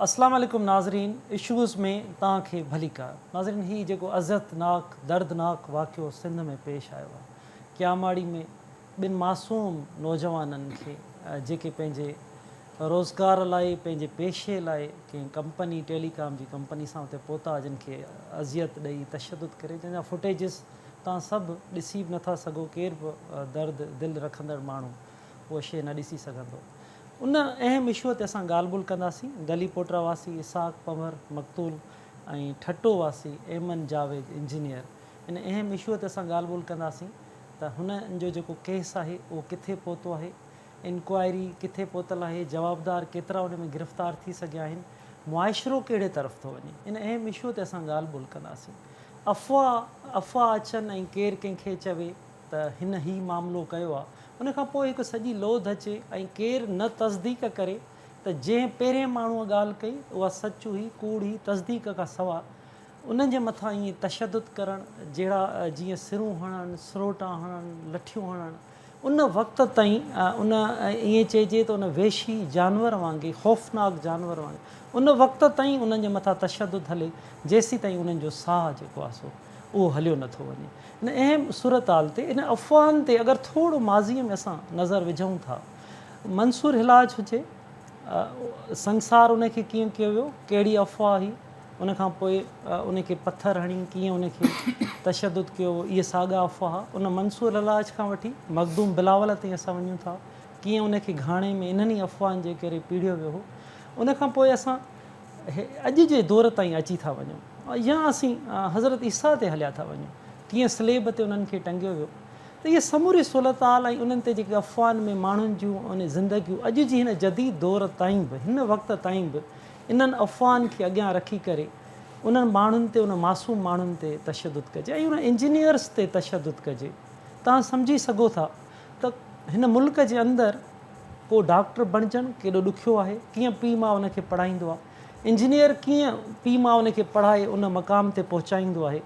اسلام عليڪم ناظرين اشوز ۾ توهان کي ڀليڪار ناظرين هي جيڪو اذيت ناڪ دردناڪ واقعو سنڌ ۾ پيش آيو آهي ڪياماڙي ۾ ٻن معصوم نوجوانن کي جيڪي پنهنجي روزگار لاء پنهنجي پيشي لاء ڪنهن ڪمپني ٽيلي ڪام جي ڪمپني سان اتي پهتا جن کي اذيت ڏئي تشدد ڪري جنهن جا فوٽيجز توهان سڀ ڏسي به نٿا سگهو ڪير به درد دل رکندڙ ماڻهو اهو شي نه ڏسي سگهندو ان اهم اشوء تي اسان ڳالهه ٻولهه ڪنداسين. گلي پوٽرا واسي اسحاق پنهور مقتول ۽ ٺٽو واسي ايمن جاويد انجنيئر ان اهم اشوء تي اسان ڳالهه ٻولهه ڪنداسين ته هنن جو جيڪو ڪيس آهي اهو ڪٿي پهتو آهي، انڪوائري ڪٿي پهتل آهي، جوابدار ڪيترا ان ۾ گرفتار ٿي سگهيا آهن، معاشرو ڪهڙي طرف ٿو وڃي ان اهم اشوء تي اسان ڳالهه ٻولهه ڪنداسين. افواهه افواهه اچن ۽ ڪير ڪنهن کي چوي. ته هن هي معاملو ڪيو آ ان کان پوء هڪ سڄي لوڌ اچي ۽ ڪير نه تصديق ڪري ته جنهن پهرين ماڻهوء ڳالهه ڪئي اها سچ هئي ڪوڙ هئي تصديق کان سوا انهن جي مٿان ائين تشدد ڪرڻ جهڙا جيئن سرون هڻڻ سروٽا هڻڻ لٺيون هڻڻ ان وقت تائين ان ائين چئجي ته ان وحشي جانور وانگي خوفناڪ جانور وانگي ان وقت تائين انهن جي مٿان تشدد هلي جيسيتائين انهن جو ساهه جيڪو آ سو اهو هليو نه ٿو وڃي. ان اهم صورتحال تي، انهن افواهن تي اگر ٿورو ماضيء ۾ اسان نظر وجهون ٿا، منصور حلاج هجي، سنگسار ان کي ڪيئن ڪيو ويو، ڪهڙي افواهه هئي، ان کان پوء ان کي پٿر هڻي ڪيئن ان کي تشدد ڪيو ويو، اهي ساڳا افواهه ان منصور حلاج کان وٺي مخدوم بلاول تائين اسان وڃون ٿا، ڪيئن ان کي گهاڻي ۾ انهن ئي افواهن جي ڪري پيڙهيو ويو هو. ان کان پوء اسان. اهي اڄ جي دور تائين اچي ٿا وڃون يا اسين حضرت عيسيٰ تي هليا ٿا وڃون ڪيئن صليب تي انهن کي ٽنگيو ويو ته اهي سموري صورتحال ۽ انهن تي جيڪي افواهن ۾ ماڻهن جون اهي زندگيون اڄ جي هن جديد دور تائين به هن وقت تائين به انهن افواهن کي اڳيان رکي ڪري انهن ماڻهن تي انهن معصوم ماڻهن تي تشدد ڪجي ۽ انهن انجنيئرس تي تشدد ڪجي توهان سمجهي سگهو ٿا ته هن ملڪ جي اندر ڪو ڊاڪٽر بڻجڻ ڪيڏو ڏکيو آهي، ڪيئن پيء ماء ان کي پڙهائيندو آهي، انجنيئر ڪيئن پيء ماء ان کي پڙهائي ان مقام تي پهچائيندو آهي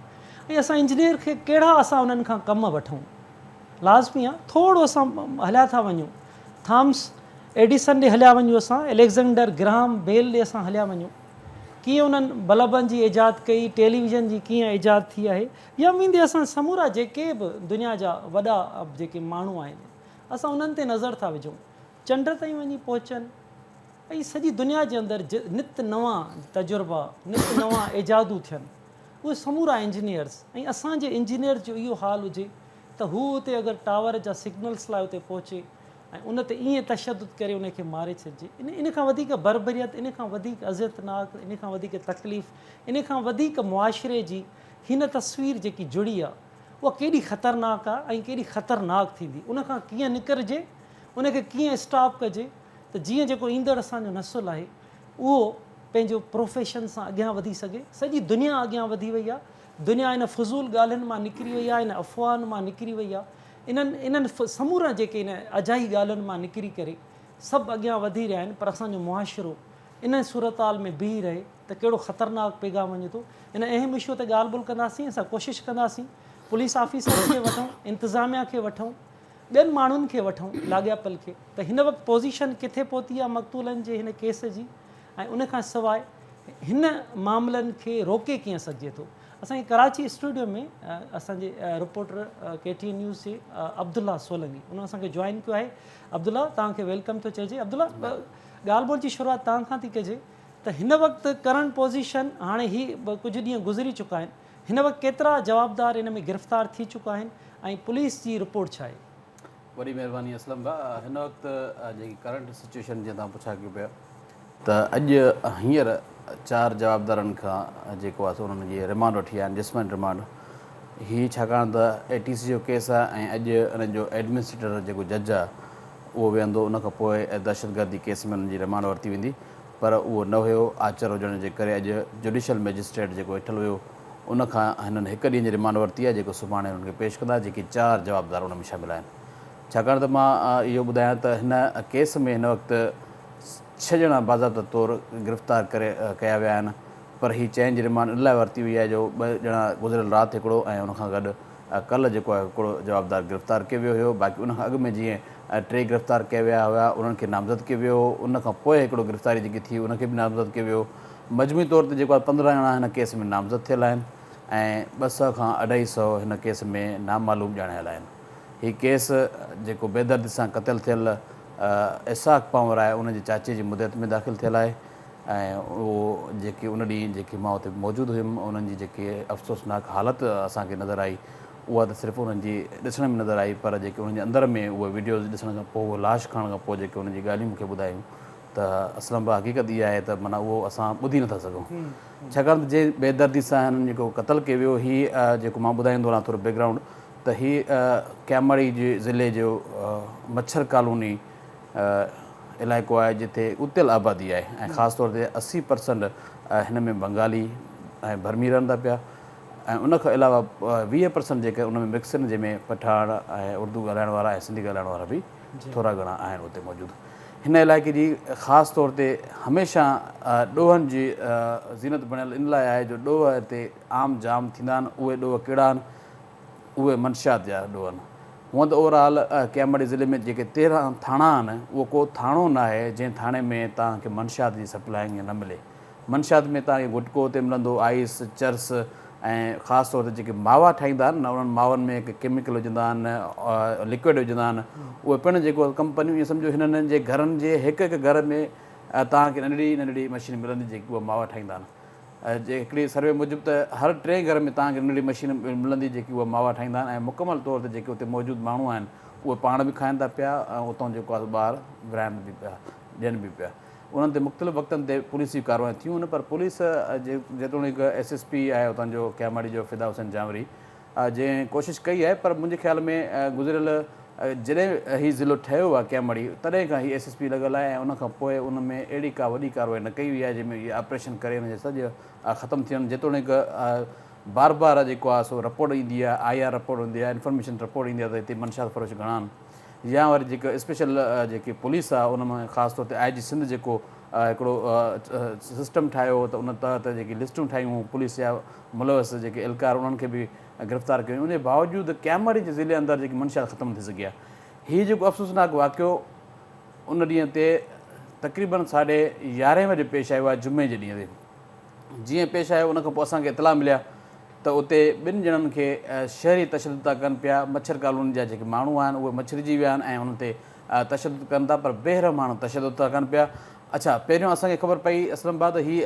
۽ اسان انجنيئر کي ڪهڙا اسان انهن کان ڪم وٺون. لازمي آهي ٿورو اسان هليا ٿا وڃون، ٿامس ايڊيسن ڏي هليا وڃون اسان، اليگزينڊر گراهم بيل ڏي اسان هليا وڃون، ڪيئن انهن بلبن جي ايجاد ڪئي، ٽيليويزن جي ڪيئن ايجاد ٿي آهي، يا ويندي اسان سمورا جيڪي به دنيا جا وڏا جيڪي ماڻهو آهن اسان انهن تي نظر ٿا وجهون چنڊ تائين وڃي پهچن ۽ سڄي دنيا جي اندر نت نوان تجربا نت نوان ايجادون ٿين اهي سمورا انجنيئرز ۽ اسان جي انجنيئرز جو اهو حال هجي ته هو اتي اگر ٽاور جا سگنلز لاء اتي پهچي ۽ ان تي ائين تشدد ڪري ان کي ماري ڇڏجي ان ان کان وڌيڪ بربريت ان کان وڌيڪ اذيتناڪ ان کان وڌيڪ تڪليف ان کان وڌيڪ معاشري جي هن تصوير جيڪي جڙي آ اها ڪيڏي خطرناڪ آ ۽ ڪيڏي خطرناڪ ٿيندي ان کان ڪيئن نڪرجي ان کي ڪيئن اسٽاپ ڪجي ته جيئن جيڪو ايندڙ اسان جو نسل آهي اهو پنهنجو پروفيشن سان اڳيان وڌي سگهي سڄي دنيا اڳيان وڌي وئي آ دنيا ان فضول ڳالهين مان نڪري وئي آ ان افواهن مان نڪري وئي آ انهن انهن سمورن جيڪي ان اجائي ڳالهين مان نڪري ڪري سڀ اڳيان وڌي رهيا آهن پر اسان جو معاشرو انهن صورتحال ۾ بيهي رهي ته ڪهڙو خطرناڪ پيغام وڃي ٿو. ان اهم اشو تي ڳالهه ٻولهه ڪنداسين، اسان ڪوشش ڪنداسين پوليس آفيسرز کي وٺون، انتظاميا کي وٺون، ٻين ماڻهن کي وٺون لاڳاپيل کي ته هن وقت پوزيشن ڪٿي پهتي آهي مقتولن جي هن ڪيس جي ۽ ان کان سواء هن معاملن کي روڪي ڪيئن سگهجي ٿو. اسان کي ڪراچي اسٽوڊيو ۾ اسان جي reporter K T N news جي عبدالله سولنگي انهن اسان کي جوائن ڪيو آهي عبدالله توهان کي ويلڪم ٿو چئجي عبدالله ڳالهه ٻولهه جي شروعات توهان کان ٿي ڪجي ته هن وقت ڪرنٽ پوزيشن هاڻي هي ڪجهه ڏينهن گذري چڪا آهن هن وقت ڪيترا جوابدار ان ۾ گرفتار ٿي چڪا آهن ۽ پوليس جي رپورٽ ڇا آهي. وڏي مهرباني اسلم ڀاء هن وقت جيڪي ڪرنٽ سچويشن جيئن توهان پڇا ڪيو پيا ته اڄ هينئر چار جوابدارن کان جيڪو آهي سو انهن جي ريمانڊ وٺي آيا آهن جسمن ريمانڊ هي ڇاڪاڻ ته اي ٽي سي جو ڪيس آهي ۽ اڄ انهن جو ايڊمنسٽريٽر جيڪو جج آهي اهو ويهندو، ان کان پوء دهشتگردي ڪيس ۾ انهن جي رمانڊ ورتي ويندي پر اهو نه هيو، آچر هجڻ جي ڪري اڄ جڊيشل مئجسٽريٽ جيڪو ويٺل هيو ان کان هنن هڪ ڏينهن جي رمانڊ ورتي آهي جيڪو سڀاڻي هنن کي پيش ڪندا جيڪي چار جوابدار ان ۾ شامل آهن ڇاڪاڻ ته مان اهو ٻڌايان ته هن ڪيس ۾ هن وقت ڇهه ڄڻا باضابطه طور گرفتار ڪري ڪيا ويا آهن پر هي چئن جي رمانڊ ان لاء ورتي وئي آهي جو ٻه ڄڻا گذريل رات هڪڙو ۽ ان کان گڏ ڪلهه جيڪو آهي هڪڙو جوابدار گرفتار ڪيو ويو هيو باقي ان کان اڳ ۾ جيئن ٽي گرفتار ڪيا ويا هيا انهن کي نامزد ڪيو ويو هو ان کان پوء هڪڙو گرفتاري جيڪي ٿي ان کي به نامزد ڪيو ويو مجموعي طور تي جيڪو آهي پندرهن ڄڻا هن ڪيس ۾ نامزد ٿيل آهن ۽ ٻه سئو کان اڍائي سئو هن ڪيس ۾ نامعلوم ڄاڻايل آهن هي ڪيس جيڪو بيدردي سان قتل ٿيل اسحاق پنور آهي ان جي چاچي جي مدعيت ۾ داخل ٿيل آهي ۽ اهو جيڪي ان ڏينهن جيڪي مان اتي موجود هيم انهن جي جيڪي افسوسناڪ حالت اسان کي نظر آئي اها ته صرف انهن جي ڏسڻ ۾ نظر آئي پر جيڪي انهن جي اندر ۾ اهي وڊيوز ڏسڻ کان پوء اهي لاش کڻڻ کان پوء جيڪي انهن جي ڳالهيون مون کي ٻڌايون ته اسلم ڀا حقيقت اها آهي ته معنيٰ اهو اسان ٻڌي نٿا سگهون ڇاڪاڻ ته جنهن بي دردي سان هنن جيڪو قتل ڪي ويو هي جيڪو مان ٻڌائيندو هلان ٿورو بيڪ گرائونڊ ته هي ڪياماڙي جي ضلعي جو مڇر ڪالوني علائقو آهي جتي ڳتيل آبادي آهي ۽ خاص طور تي اسي پرسنٽ هن ۾ بنگالي ۽ برمي رهن ٿا پيا ۽ ان کان علاوه ويهه پرسنٽ جيڪي ان ۾ مڪس آهن جنهن ۾ پٺاڻ ۽ اردو ڳالهائڻ وارا ۽ سنڌي ڳالهائڻ وارا به جي. ٿورا گهڻا آهن اتي موجود هن علائقي جي خاص طور تي هميشه ڏوهن جي زينت بڻيل ان لاء آهي جو ڏوهه هتي عام جام ٿيندا آهن اهي ڏوهه ڪهڙا آهن اهي منشيات جا اڏو آهن. هونئن ته اوور آل ڪياماڙي ضلعي ۾ جيڪي تيرهن ٿاڻا آهن اهو ڪو ٿاڻو ناهي جنهن ٿاڻي ۾ توهان کي منشيات جي سپلائنگ ائين نه ملي. منشيات ۾ توهان کي گٽڪو اتي ملندو، آئيس، چرس ۽ خاص طور تي جيڪي ماوا ٺاهيندا آهن نه انهن ماون ۾ ڪي ڪيميڪل وجهندا آهن لڪوئڊ وجهندا آهن اهي پڻ جيڪو ڪمپنيون ائين سمجهو هنن جي گهرن جي هڪ هڪ گهر ۾ توهان کي ننڍڙي ننڍڙي مشين ملندي جيڪي اهي ماوا ٺاهيندا آهن. جي هڪڙي سروي موجب ته هر ٽئين گهر ۾ توهان کي ننڍڙي مشين ملندي جيڪي اها ماوا ٺاهيندا آهن ۽ مڪمل طور تي جيڪي اتي موجود ماڻهو آهن اهي پاڻ به کائن ٿا پيا ۽ اتان جيڪو آهي سو ٻاهر ورهائن به پيا ڏين به پيا انهن تي مختلف وقتن تي پوليسي ڪاروايون ٿيون پر پوليس جيتوڻيڪ ايس ايس پي آهي اتان جو ڪياماڙي جو فدا حسين جانوري جنهن ڪوشش ڪئي آهي پر منهنجي خيال ۾ گذريل جڏهن هي ضلعو ٺهيو آهي ڪئين مڙي تڏهن کان هي ايس ايس پي لڳل آهي ۽ ان کان پوء ان ۾ اهڙي ڪا وڏي ڪارروائي نه ڪئي وئي آهي جنهن ۾ اهي آپريشن ڪري ان جا سڄ ختم ٿين جيتوڻيڪ بار بار جيڪو آهي سو رپورٽ ايندي آهي آء آر رپورٽ ايندي آهي انفارميشن رپورٽ ايندي آهي ته هتي منشيات فروش گهڻا آهن يا وري جيڪو اسپيشل جيڪي پوليس آهي ان ۾ خاص طور تي آء جي سنڌ جيڪو هڪڙو سسٽم ٺاهيو هو ته ان تحت جيڪي لسٽون ٺاهيون هيون پوليس جا ملوث جيڪي اهلڪار انهن کي به گرفتار ڪيو وڃي انهي باوجود ڪيمرج ضلعي اندر جيڪي منشيات ختم نه ٿي سگهي آهي هي جيڪو افسوسناڪ واقعو ان ڏينهن تي تقريبن ساڍي يارهين بجي پيش آيو آهي جمعي جي ڏينهن تي جيئن پيش آيو ان کان پوء اسان کي اطلاع ملي آهي ته اتي ٻن ڄڻن کي شهري تشدد ٿا ڪن پيا مڇر ڪالوني جا جيڪي ماڻهو آهن اهي مڇرجي ويا آهن ۽ انهن تي تشدد ڪن ٿا پر بيرحم ماڻهو تشدد ٿا ڪن پيا اڇا پهريون اسان کي خبر پئي اسلام آباد هي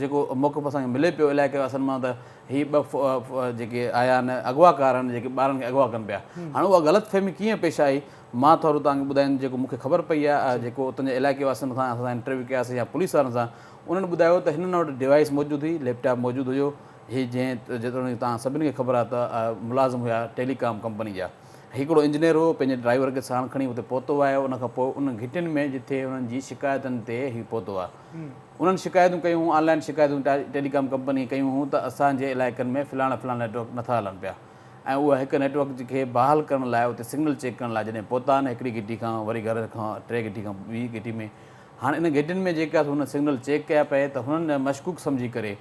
جيڪو موقف اسان کي ملي پيو الائي ڪهڙو اصل مان ته هي ٻه جيڪي آيا آهن اغواڪار آهن جيڪي ٻارن کي اغوا ڪن پيا هاڻي اها غلط فهمي ڪيئن پيش آئي مان ٿورو توهان کي ٻڌايان جيڪو مون کي خبر پئي آهي جيڪو اتن جي علائقي واسين سان اسان انٽرويو ڪياسي يا پوليس وارن سان انهن ٻڌايو ته هنن وٽ ڊيوائس موجود هئي ليپ ٽاپ موجود هيو هي جنهن جيتوڻيڪ توهان سڀني کي خبر آهي ته ملازم هيا ٽيلي ڪام ڪمپني جا هڪڙو انجنيئر هو، پنهنجي ڊرائيور کي ساڻ کڻي اتي پهتو آهي، ان کان پوء ان گهٽين ۾ جتي انهن جي شڪايتن تي هي پهتو آهي. انهن شڪايتون ڪيون هون، آن لائن شڪايتون ٽيلي ڪام ڪمپنيء ڪيون هون ته اسان جي علائقن ۾ فلاڻا فلاڻا نيٽ ورڪ نٿا هلن پيا ۽ اها هڪ نيٽ ورڪ کي بحال ڪرڻ لاء اتي سگنل چيڪ ڪرڻ لاء جڏهن پهتا آهن هڪڙي گهٽي کان وري گهر کان ٽي گهٽي کان ٻي گهٽي ۾ هاڻ ان گهٽين ۾ جيڪي آهي سو هن سگنل چيڪ ڪيا پئي ته هنن مشڪوڪ سمجهي ڪري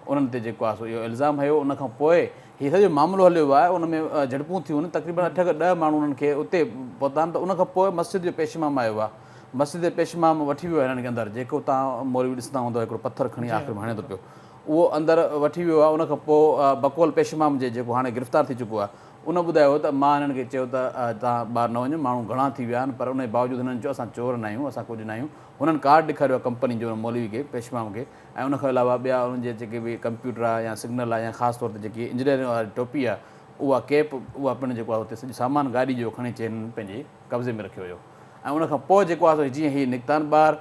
انهن تي جيڪو آهي سو اهو الزام هنيو ان کان پوء هي سڄو معاملو هليو ويو آهي ان ۾ جهڙپون ٿيون آهن تقريبن اٺ کان ڏهه ماڻهو انهن کي اتي پهتا آهن ته ان کان پوء مسجد جو پيش امام آيو آهي مسجد جي پيش امام وٺي ويو آهي انهن کي اندر جيڪو توهان مولوي ڏسندا هوندا هڪڙو پٿر کڻي آخر ۾ هڻي ٿو پيو اهو اندر وٺي ويو آهي ان کان پوء بقول پيش امام جي جيڪو هاڻي گرفتار ٿي چڪو آهي ان ٻڌايو ته مان انهن کي چيو ته توهان ٻاهر نه وڃو ماڻهو گهڻا ٿي ويا آهن پر انهي باوجود هنن چيو اسان چور ناهيون اسان ڪجهه ناهيون هنن ڪارڊ ڏيکاريو آهي ڪمپني جو ان مولوي کي پيش امام کي ۽ ان کان علاوه ٻيا انهن جا جيڪي به ڪمپيوٽر آهي يا سگنل آهي يا خاص طور تي جيڪي انجنيئرنگ واري ٽوپي آهي اها ڪيپ اها پڻ جيڪو آهي اتي سڄو سامان گاڏي جو کڻي اچي هنن پنهنجي قبضي ۾ رکيو هيو ۽ ان کان پوء جيڪو آهي جيئن هي نڪتان ٻاهر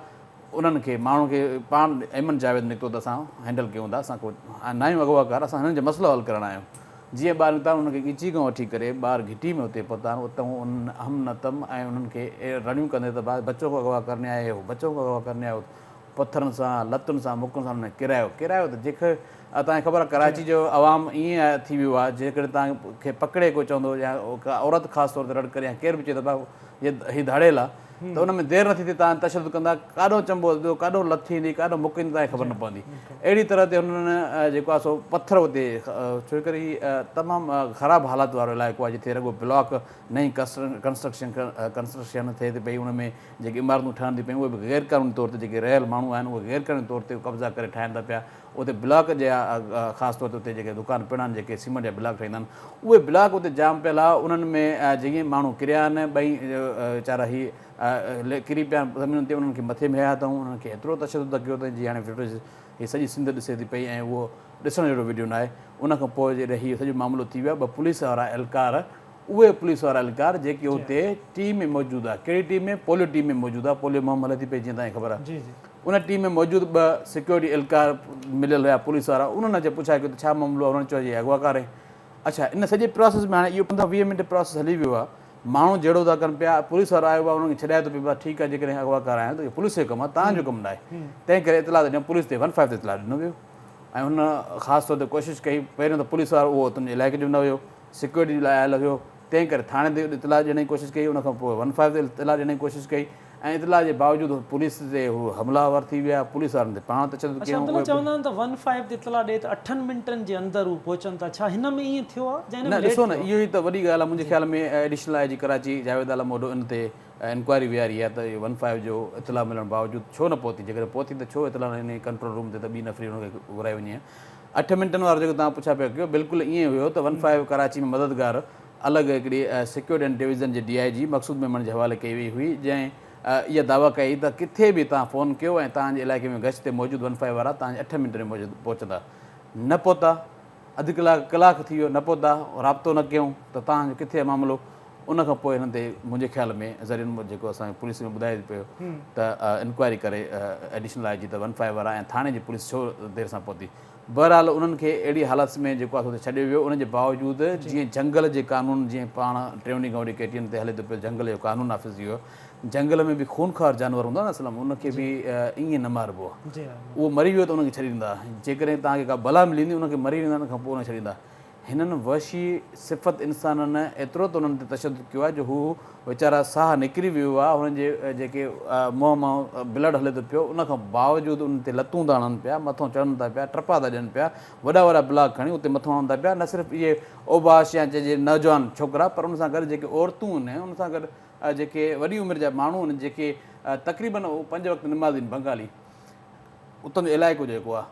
انهن کي ماڻهن کي پاڻ ايمن جاويد نڪتو ته اسان هينڊل ڪيون ٿا اسان ڪو ناهيون اغواڪار اسان هنن جو مسئلو حل ڪرڻ آيون جيئن ٻاهر نڪتا انهن کي ڳچي کان وٺي ڪري ٻاهر گهٽي ۾ اتي پهتان اتون انهن اهم نتم ۽ انهن کي رڙيون ڪندي ته بچو ڪو اغوا ڪرني آيا هي هو بچو ڪو اغوا ڪرني آيا هو پٿرن سان، لتن سان، مڪن سان انهن ڪرايو. ڪرايو ته جيڪ آ توهان کي خبر آ ڪراچي جو عوام ائين آ ٿي ويو آ جيڪڏهن توهان کي پڪڙي ڪو چوندو يا ڪا عورت خاص طور تي رڙ ڪري يا ڪير به چئي ته ڀاء هي ڌاڙيل آ ته ان ۾ دير نه ٿيندي توهان تشدد ڪندا ڪاڏو چنبو ڏيندو ڪاڏو لت ٿيندي ڪاڏو مڪ ايندي توهان کي خبر نه پوندي اهڙي طرح تي انهن جيڪو آ سو پٿر اتي ڇو ڪري هي تمام خراب حالات وارو علائقو آ جتي رڳو بلاڪ نئين ڪنسٽرڪشن ڪنسٽرڪشن ٿئي ٿي پئي ان ۾ جيڪي عمارتون ٺهن ٿيون پيون اهي به غير قانوني طور تي جيڪي رهيل ماڻهو آهن اهي غير قانوني طور تي قبضا ڪري ٺاهين ٿا پيا اتي بلاڪ جي خاص طور تي اتي جيڪي دڪان پڻ آهن جيڪي سيمنٽ جا بلاڪ ٺهيندا آهن اهي بلاڪ اتي جام پيل آهي انهن ۾ جئين ماڻهو ڪريا آهن ٻئي ويچارا هي ڪري پيا آهن زمينن تي انهن کي مٿي مهيا اٿئون انهن کي ايترو تشدد ڪيو اٿئين جي هاڻي فوٽيج هي سڄي سنڌ ڏسي ٿي پئي ۽ اهو ڏسڻ جهڙو وڊيو ناهي ان کان پوء جڏهن هي سڄو معاملو ٿي ويو ٻه پوليس وارا اهلڪار اهي پوليس وارا اهلڪار جيڪي اتي ٽيم ۾ موجود آ ڪهڙي ٽيم ۾ پوليو ٽيم ۾ موجود آ پوليو مهم هلي ٿي پئي جيئن توهان کي خبر آ ان ٽيم ۾ موجود ٻه سيڪيورٽي اهلڪار مليل هيا پوليس وارا انهن اچي پڇا ڪيو ته ڇا معاملو آ انهن چيو جي اغواڪار آهي اڇا ان سڄي پراسيس ۾ هاڻي اهو پندرهن ويهه منٽ پراسيس هلي ويو آ ماڻهو جهيڙو ٿا ڪن پيا پوليس وارو آيو آ انهن کي ڇڏائي ٿو پيو بس ٺيڪ آ جيڪڏهن اغواڪار آهيان ته اهو پوليس جو ڪم آ توهان جو ڪم ناهي تنهن ڪري اطلاع ته ڏيون پوليس تي ون فائيو تي اطلاع ڏنو ويو ۽ هن خاص طور تي ڪوشش ڪئي پهريون ته پوليس وارو اهو تنهنجي علائقي جو نه هيو سيڪيورٽي جي لاء آيل هيو، تنهن ڪري ٿاڻي تي اطلاع ڏيڻ جي ڪوشش ڪئي، ان کان پوء ون فائيو تي اطلاع ڏيڻ جي ڪوشش ڪئي ۽ اطلاع جي باوجود پوليس تي هو حمله آور ٿي ويا، پوليس وارن تي پاڻ تشدد ڪيائون، اهي به. چوندا آهن ته ون فائيو تي اطلاع ڏئي ته اٺن منٽن جي اندر هو پهچن ٿا، ڇا هن ۾ ائين ٿيو آهي جا هن ۾ ليٽ ٿيو آهي؟ نه ڏسو نه اهو ئي ته وڏي ڳالهه آهي، منهنجي خيال ۾ ايڊيشنل آء جي ڪراچي جاويد عالم اوڍو ان تي انڪوائري ويهاري آهي ته ون فائيو جو اطلاع ملڻ باوجود ڇو نه پهتي، جيڪڏهن پهتي ته ڇو اطلاع نه ڏني ڪنٽرول روم تي ته ٻي نفري ان کي گهرائي وڃي ها. اٺ منٽن وارو جيڪو توهان پڇا پيا ڪيو بلڪل ائين ئي هيو ته ون فائيو ڪراچي ۾ مددگار الڳ هڪڙي سيڪيورٽي اينڊ ڊويزن جي D I G Maqsood Memon جي حوالي ڪئي وئي هئي جنهن اها دعويٰ ڪئي ته ڪٿي به توهان فون ڪيو ۽ توهان جي علائقي ۾ گشت تي موجود ون فائيو وارا توهان جي اٺ منٽن ۾ پهچندا نه پهتا اڌ ڪلاڪ ڪلاڪ ٿي ويو نه پهتا رابطو نه ڪيون ته توهان جو ڪٿي آهي معاملو ان کان پوء هنن تي منهنجي خيال ۾ ذريعن مان جيڪو اسان کي پوليس ۾ ٻڌايو پيو ته انڪوائري ڪري ايڊيشنل آء جي ته ون فائيو وارا ۽ ٿاڻي جي پوليس ڇو دير سان پهتي بهرحال انهن کي اهڙي حالت ۾ جيڪو آسو تي ڇڏيو ويو ان جي باوجود جيئن جهنگل جي قانون جيئن پاڻ ٽيوني گهونڊي ڪي ٽي اين تي هلي ٿو پيو جهنگل جو قانون نافذ ٿي ويو جهنگل ۾ به خونخوار جانور هوندا نه اسلم ان کي به ائين نه ماربو اهو مري ويو ته ان کي ڇڏي ڏيندا جيڪڏهن توهان کي ڪا بلا ملي ويندي ان کي مري ويندا ان کان پوء ان کي ڇڏي ڏيندا هنن وحشي صفت انسانن ايترو ته انهن تي تشدد ڪيو آهي جو هو ويچارا ساهه نڪري ويو آهي هنن جي جيڪي منهن مان بلڊ هلي ٿو پيو ان کان باوجود انهن تي لتون ٿا هڻن پيا مٿو چڙهن ٿا پيا ٽپا ٿا ڏين پيا وڏا وڏا بلاڪ کڻي اتي مٿو هڻن ٿا پيا نه صرف اهي اوباش يا چئجي نوجوان ڇوڪرا پر ان سان گڏ جيڪي عورتون ان ان سان گڏ جيڪي وڏي عمر جا ماڻهو ان جيڪي تقريبن پنج وقت نمازين بنگالي اتان جو علائقو جيڪو آ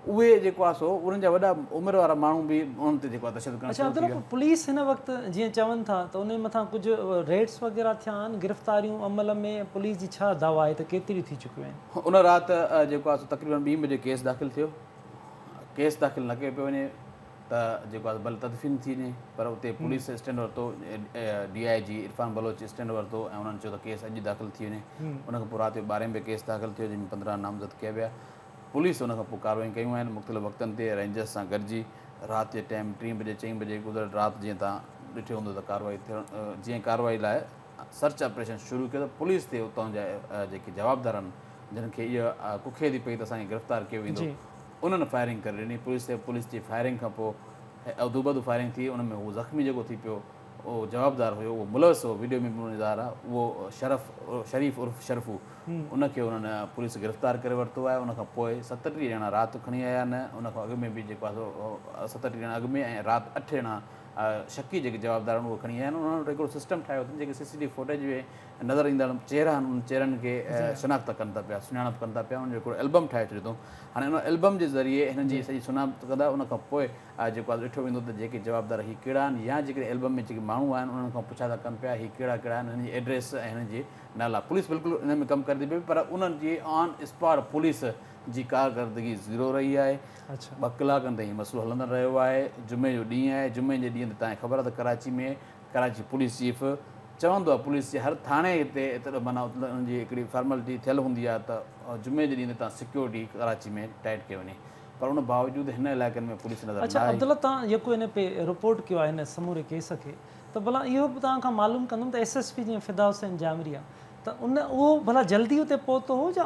اهي جيڪو آ سو انهن جا وڏا عمر وارا ماڻهو به انهن تي جيڪو آ تشدد ڪرڻ شروع ٿي ويا. اچا عبدالرؤف پوليس هن وقت جيئن چون ٿا ته انهي مٿان ڪجهه ريڊس وغيره ٿيا آهن گرفتاريون عمل ۾ پوليس جي ڇا دعويٰ آهي ته ڪيتريون ٿي چڪيون آهن؟ ان رات جيڪو آ سو تقريبن ٻي بجي ڪيس داخل ٿيو ڪيس داخل نه ڪيو پيو وڃي. ته جيڪو آهي بل تدفين ٿي وڃي پر اتي پوليس اسٽينڊ ورتو D I G Irfan Baloch stand ورتو ۽ انهن چيو ته ڪيس اڄ داخل ٿي وڃي ان کان پوء رات جو ٻارهين به ڪيس داخل ٿيو جنهن ۾ پندرهن نامزد ڪيا ويا پوليس ان کان پوء ڪارروائيون ڪيون آهن مختلف وقتن تي رينجرز سان گڏجي رات جي ٽائيم ٽين بجي چئين بجي گذريل رات جيئن تان ڏٺو هوندو ته ڪارروائي ٿيڻ جيئن ڪارروائي لاء سرچ آپريشن شروع ڪيو ته پوليس تي اتان جا جيڪي جوابدار آهن جن کي اها ڪکيدي پئي ته اسان کي گرفتار ڪيو ويندو انهن فائرنگ ڪري ڏني پوليس تي پوليس جي فائرنگ کان پوء ادوبدو فائرنگ ٿي ان ۾ هو زخمي جيڪو ٿي پيو اهو جوابدار هيو اهو ملوث هو ويڊيو ۾ به انهن جو ظاهر آهي اهو شرف شريف عرف شرفو ان کي انهن پوليس گرفتار ڪري ورتو آهي ان کان پوء ستٽيهه ڄڻا رات کڻي آيا آهن ان کان اڳ ۾ به جيڪو آهي ستٽيهه ڄڻا اڳ ۾ ۽ رات اٺ ڄڻا اها شڪي جيڪي جوابدار آهن اهي کڻي آيا آهن انهن وٽ هڪڙو سسٽم ٺاهيو اٿن جيڪي سي سي ٽي فوٽيج ۾ نظر ايندڙ چهرا آهن انهن چهرن کي شناخت ڪن ٿا پيا سڃاڻپ ڪن ٿا پيا انهن جو هڪڙو البم ٺاهي ڇڏيو اٿئون هاڻي ان البم جي ذريعي هنن جي سڄي سڃاڻپ ڪندا ان کان پوء جيڪو آهي ڏٺو ويندو ته جيڪي جوابدار هي ڪهڙا آهن يا جيڪڏهن البم ۾ جيڪي ماڻهو آهن انهن کان پڇا ٿا ڪن پيا هي ڪهڙا ڪهڙا آهن هنن جي ايڊريس ۽ هنن جي نالا پوليس بلڪل انهن ۾ ڪم ڪري ٿي پئي پر انهن جي آن اسپاٽ پوليس جي ڪارڪردگي زيرو رهي آهي ٻه ڪلاڪن تائين هي مسئلو هلندڙ رهيو آهي، جمعي جو ڏينهن آهي، جمعي جي ڏينهن تي توهان کي خبر آهي ته ڪراچي ۾ ڪراچي پوليس چيف چوندو آهي پوليس جي هر ٿاڻي تي اتر معنيٰ انهن جي هڪڙي فارملٽي ٿيل هوندي آهي ته جمعي جي ڏينهن تي توهان سيڪيورٽي ڪراچي ۾ ٽائيٽ ڪئي وڃي پر ان باوجود هن علائقن ۾ پوليس نظر نه آئي. عبدالله توهان جيڪو هن پي رپورٽ ڪيو آهي هن سموري ڪيس کي ته ڀلا اهو به توهان کان معلوم ڪندم ته ايس ايس پي جيئن فدا حسين جامريا ته ان اهو ڀلا جلدي اتي پهتو هو جا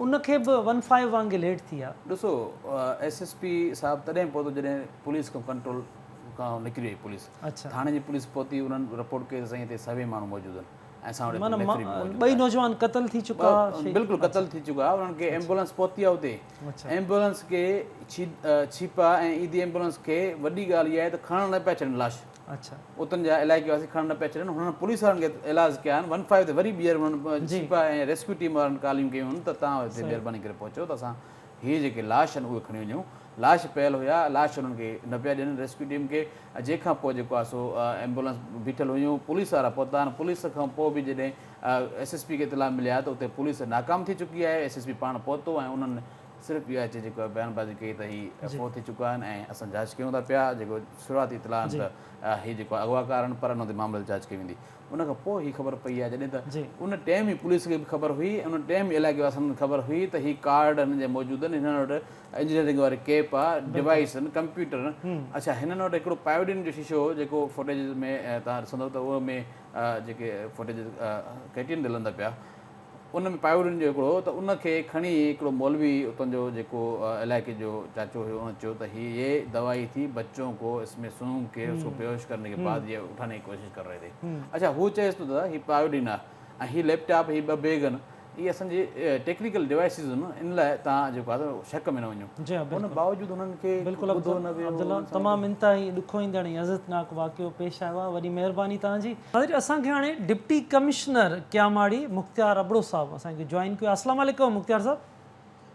ان کي به ون فائيو وانگي ليٽ ٿي آ. ڏسو ايس ايس پي صاحب تڏهن پهتو جڏهن پوليس کان ڪنٽرول کان هو نڪري وئي پوليس ٿاڻي جي پوليس پهتي انهن رپورٽ ڪئي ته سائين هتي سوين ماڻهو موجود آهن ۽ سان وٽ هڪ ميٿري به موجود آهي. ٻئي نوجوان قتل ٿي چڪا ها. بلڪل قتل ٿي چڪا ها انهن کي ايمبولنس پهتي آ اتي ايمبولنس کي ڇيپا ۽ ايندي ايمبولنس کي وڏي ڳالهه اها آهي ته کڻڻ نه پيا ڇڏن لاش. اتن جا علائقي واسي کڻڻ نه پيا ڇڏن، هنن پوليس وارن کي اعلاز ڪيا آهن، ون فائيو تي وري ٻيهر انهن سپاهي ۽ ريسڪيو ٽيم وارن ڪاليون ڪيون آهن ته توهان هتي مهرباني ڪري پهچو ته اسان هي جيڪي لاش آهن اهي کڻي وڃون، لاش پيل هيا، لاش انهن کي نه پيا ڏين ريسڪيو ٽيم کي، جنهن کان پوء جيڪو آهي سو ايمبولنس بيٺل هيون، پوليس وارا پهتا آهن، پوليس کان پوء به جڏهن ايس ايس پي کي اطلاع ملي آهي ته اتي پوليس ناڪام ٿي چڪي آهي، ايس ايس پي پاڻ پهتو ۽ انهن صرف اهو اچي جيڪو بيان بازي ڪئي ته هي فوت ٿي چڪا آهن ۽ اسان جاچ ڪيون ٿا پيا جيڪو شروعاتي اطلاع آهن ته هي جيڪو اغواڪار آهن پر انهن تي معاملي تي جاچ ڪئي ويندي ان کان پوء هي خبر پئي آهي جڏهن ته ان ٽيم ئي پوليس کي به خبر هئي ۽ ان ٽيم ئي علائقي واسن کي خبر هئي ته هي ڪارڊ هنن جا موجود آهن هنن وٽ انجنيئرنگ واري ڪيپ آهي ڊوائيس آهن ڪمپيوٽر آهن اڇا هنن وٽ هڪڙو پائوڊين جو شيشو هو جيڪو فوٽيجز ۾ تهان ڏسندو ته ان ۾ جيڪي فوٽيجز ڪيٽين تي لهندا پيا ان ۾ پائورين جو هڪڙو هو ته ان کي کڻي هڪڙو مولوي اتان جو جيڪو علائقي جو چاچو هيو ان چيو ته هي يي دوائي ٿي بچون ڪو اس مين سونگ ڪي اس ڪو بيهوش ڪرني ڪي بعد يي اٺاني ڪي ڪوشش ڪر رهي ٿي اڇا هو چيس ٿو دادا هي پائورين آهي ۽ هي ليپ ٽاپ هي ٻه بيگ آهن اهي اسان جي ٽيڪنيڪل ڊوائسز آهن ان لاء توهان جيڪو آهي سو شڪ ۾ نه وڃو ان باوجود انهن کي ٻڌو نه ويو. عبدالله تمام انتهائي ڏکوئيندڙ ۽ عزتناڪ واقعو پيش آيو آهي وڏي مهرباني توهان جي. ناظرين اسان کي هاڻي ڊپٽي ڪمشنر ڪياماڙي مختيار ابڙو صاحب اسان کي جوائن ڪيو آهي اسلام عليڪم مختيار صاحب.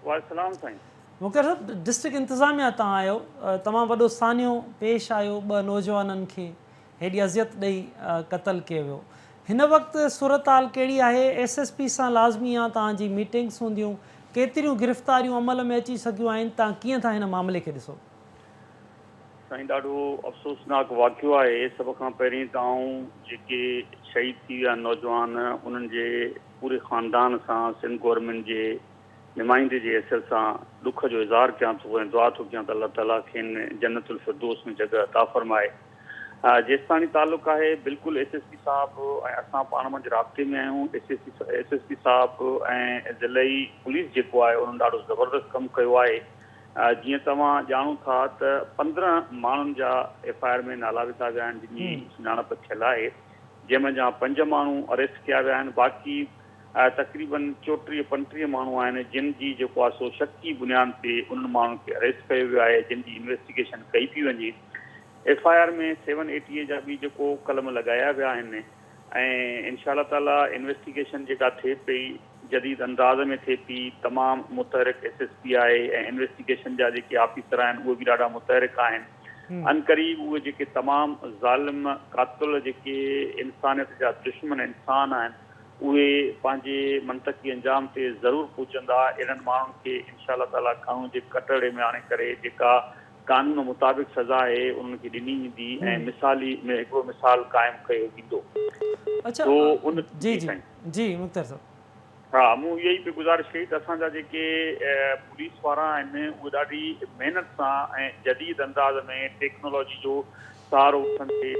وعليڪم السلام سائين. مختيار صاحب ڊسٽرڪٽ انتظاميا تان آهيو تمام وڏو سانحو پيش آيو ٻه نوجوانن کي هيڏي اذيت ڏئي قتل ڪيو ويو هن وقت صورتحال ڪهڙي آهي ايس ايس پي سان لازمي يا توهان جي ميٽنگس هونديون ڪيتريون گرفتاريون عمل ۾ اچي سگهيون آهن تان ڪيئن ٿا هن معاملي کي ڏسو. سائين ڏاڍو افسوسناڪ واقعو آهي سڀ کان پهرين ته آئون جيڪي شهيد ٿي ويا نوجوان انهن جي پوري خاندان سان سنڌ گورنمينٽ جي نمائندي جي حيثيت سان ڏک جو اظهار ڪيان ٿو ۽ دعا ٿو ڪيان ته الله تعالي کين جنت الفردوس ۾ جڳهه عطا فرمائي جيستاڻي تعلق آهي بلڪل ايس ايس پي صاحب ۽ اسان پاڻ منجهه رابطي ۾ آهيون S S P S S P صاحب ۽ ضلعي پوليس جيڪو آهي انهن ڏاڍو زبردست ڪم ڪيو آهي جيئن توهان ڄاڻو ٿا ته پندرهن ماڻهن جا ايف آء آر ۾ نالا وڌا ويا آهن جن جي سڃاڻپ ٿيل آهي جنهن مان جهان پنج ماڻهو اريسٽ ڪيا ويا آهن باقي تقريبن چوٽيهه پنٽيهه ماڻهو آهن جن جي جيڪو آهي سو شڪي بنيان تي انهن ماڻهن کي اريسٽ ڪيو ويو آهي جن جي انويسٽيگيشن ڪئي پي وڃي F I R ۾ seven A T A جا به جيڪو قلم لڳايا ويا آهن ۽ انشاء الله تعالي انويسٽيگيشن جيڪا ٿئي پئي جديد انداز ۾ ٿئي پئي، تمام متحرڪ ايس ايس پي آهي ۽ انويسٽيگيشن جا جيڪي آفيسر آهن اهي به ڏاڍا متحرڪ آهن، عنقريب اهي جيڪي تمام ظالم قاتل جيڪي انسانيت جا دشمن انسان آهن اهي پنهنجي منطقي انجام تي ضرور پهچندا، اهڙن ماڻهن کي انشاء الله تعاليٰ قانون جي ڪٽهڙي ۾ آڻي ڪري جيڪا قانون مطابق سزا آهي انهن کي ڏني ويندي ۽ مثالي ۾ هڪڙو مثال قائم ڪيو ويندو. سو ان جي سائين. جي مختيار صاحب. ها مون اها ئي پئي گذارش ڪئي ته اسان جا جيڪي پوليس وارا آهن اهي ڏاڍي محنت سان ۽ جديد انداز ۾ ٽيڪنالاجي جو سهارو وٺندي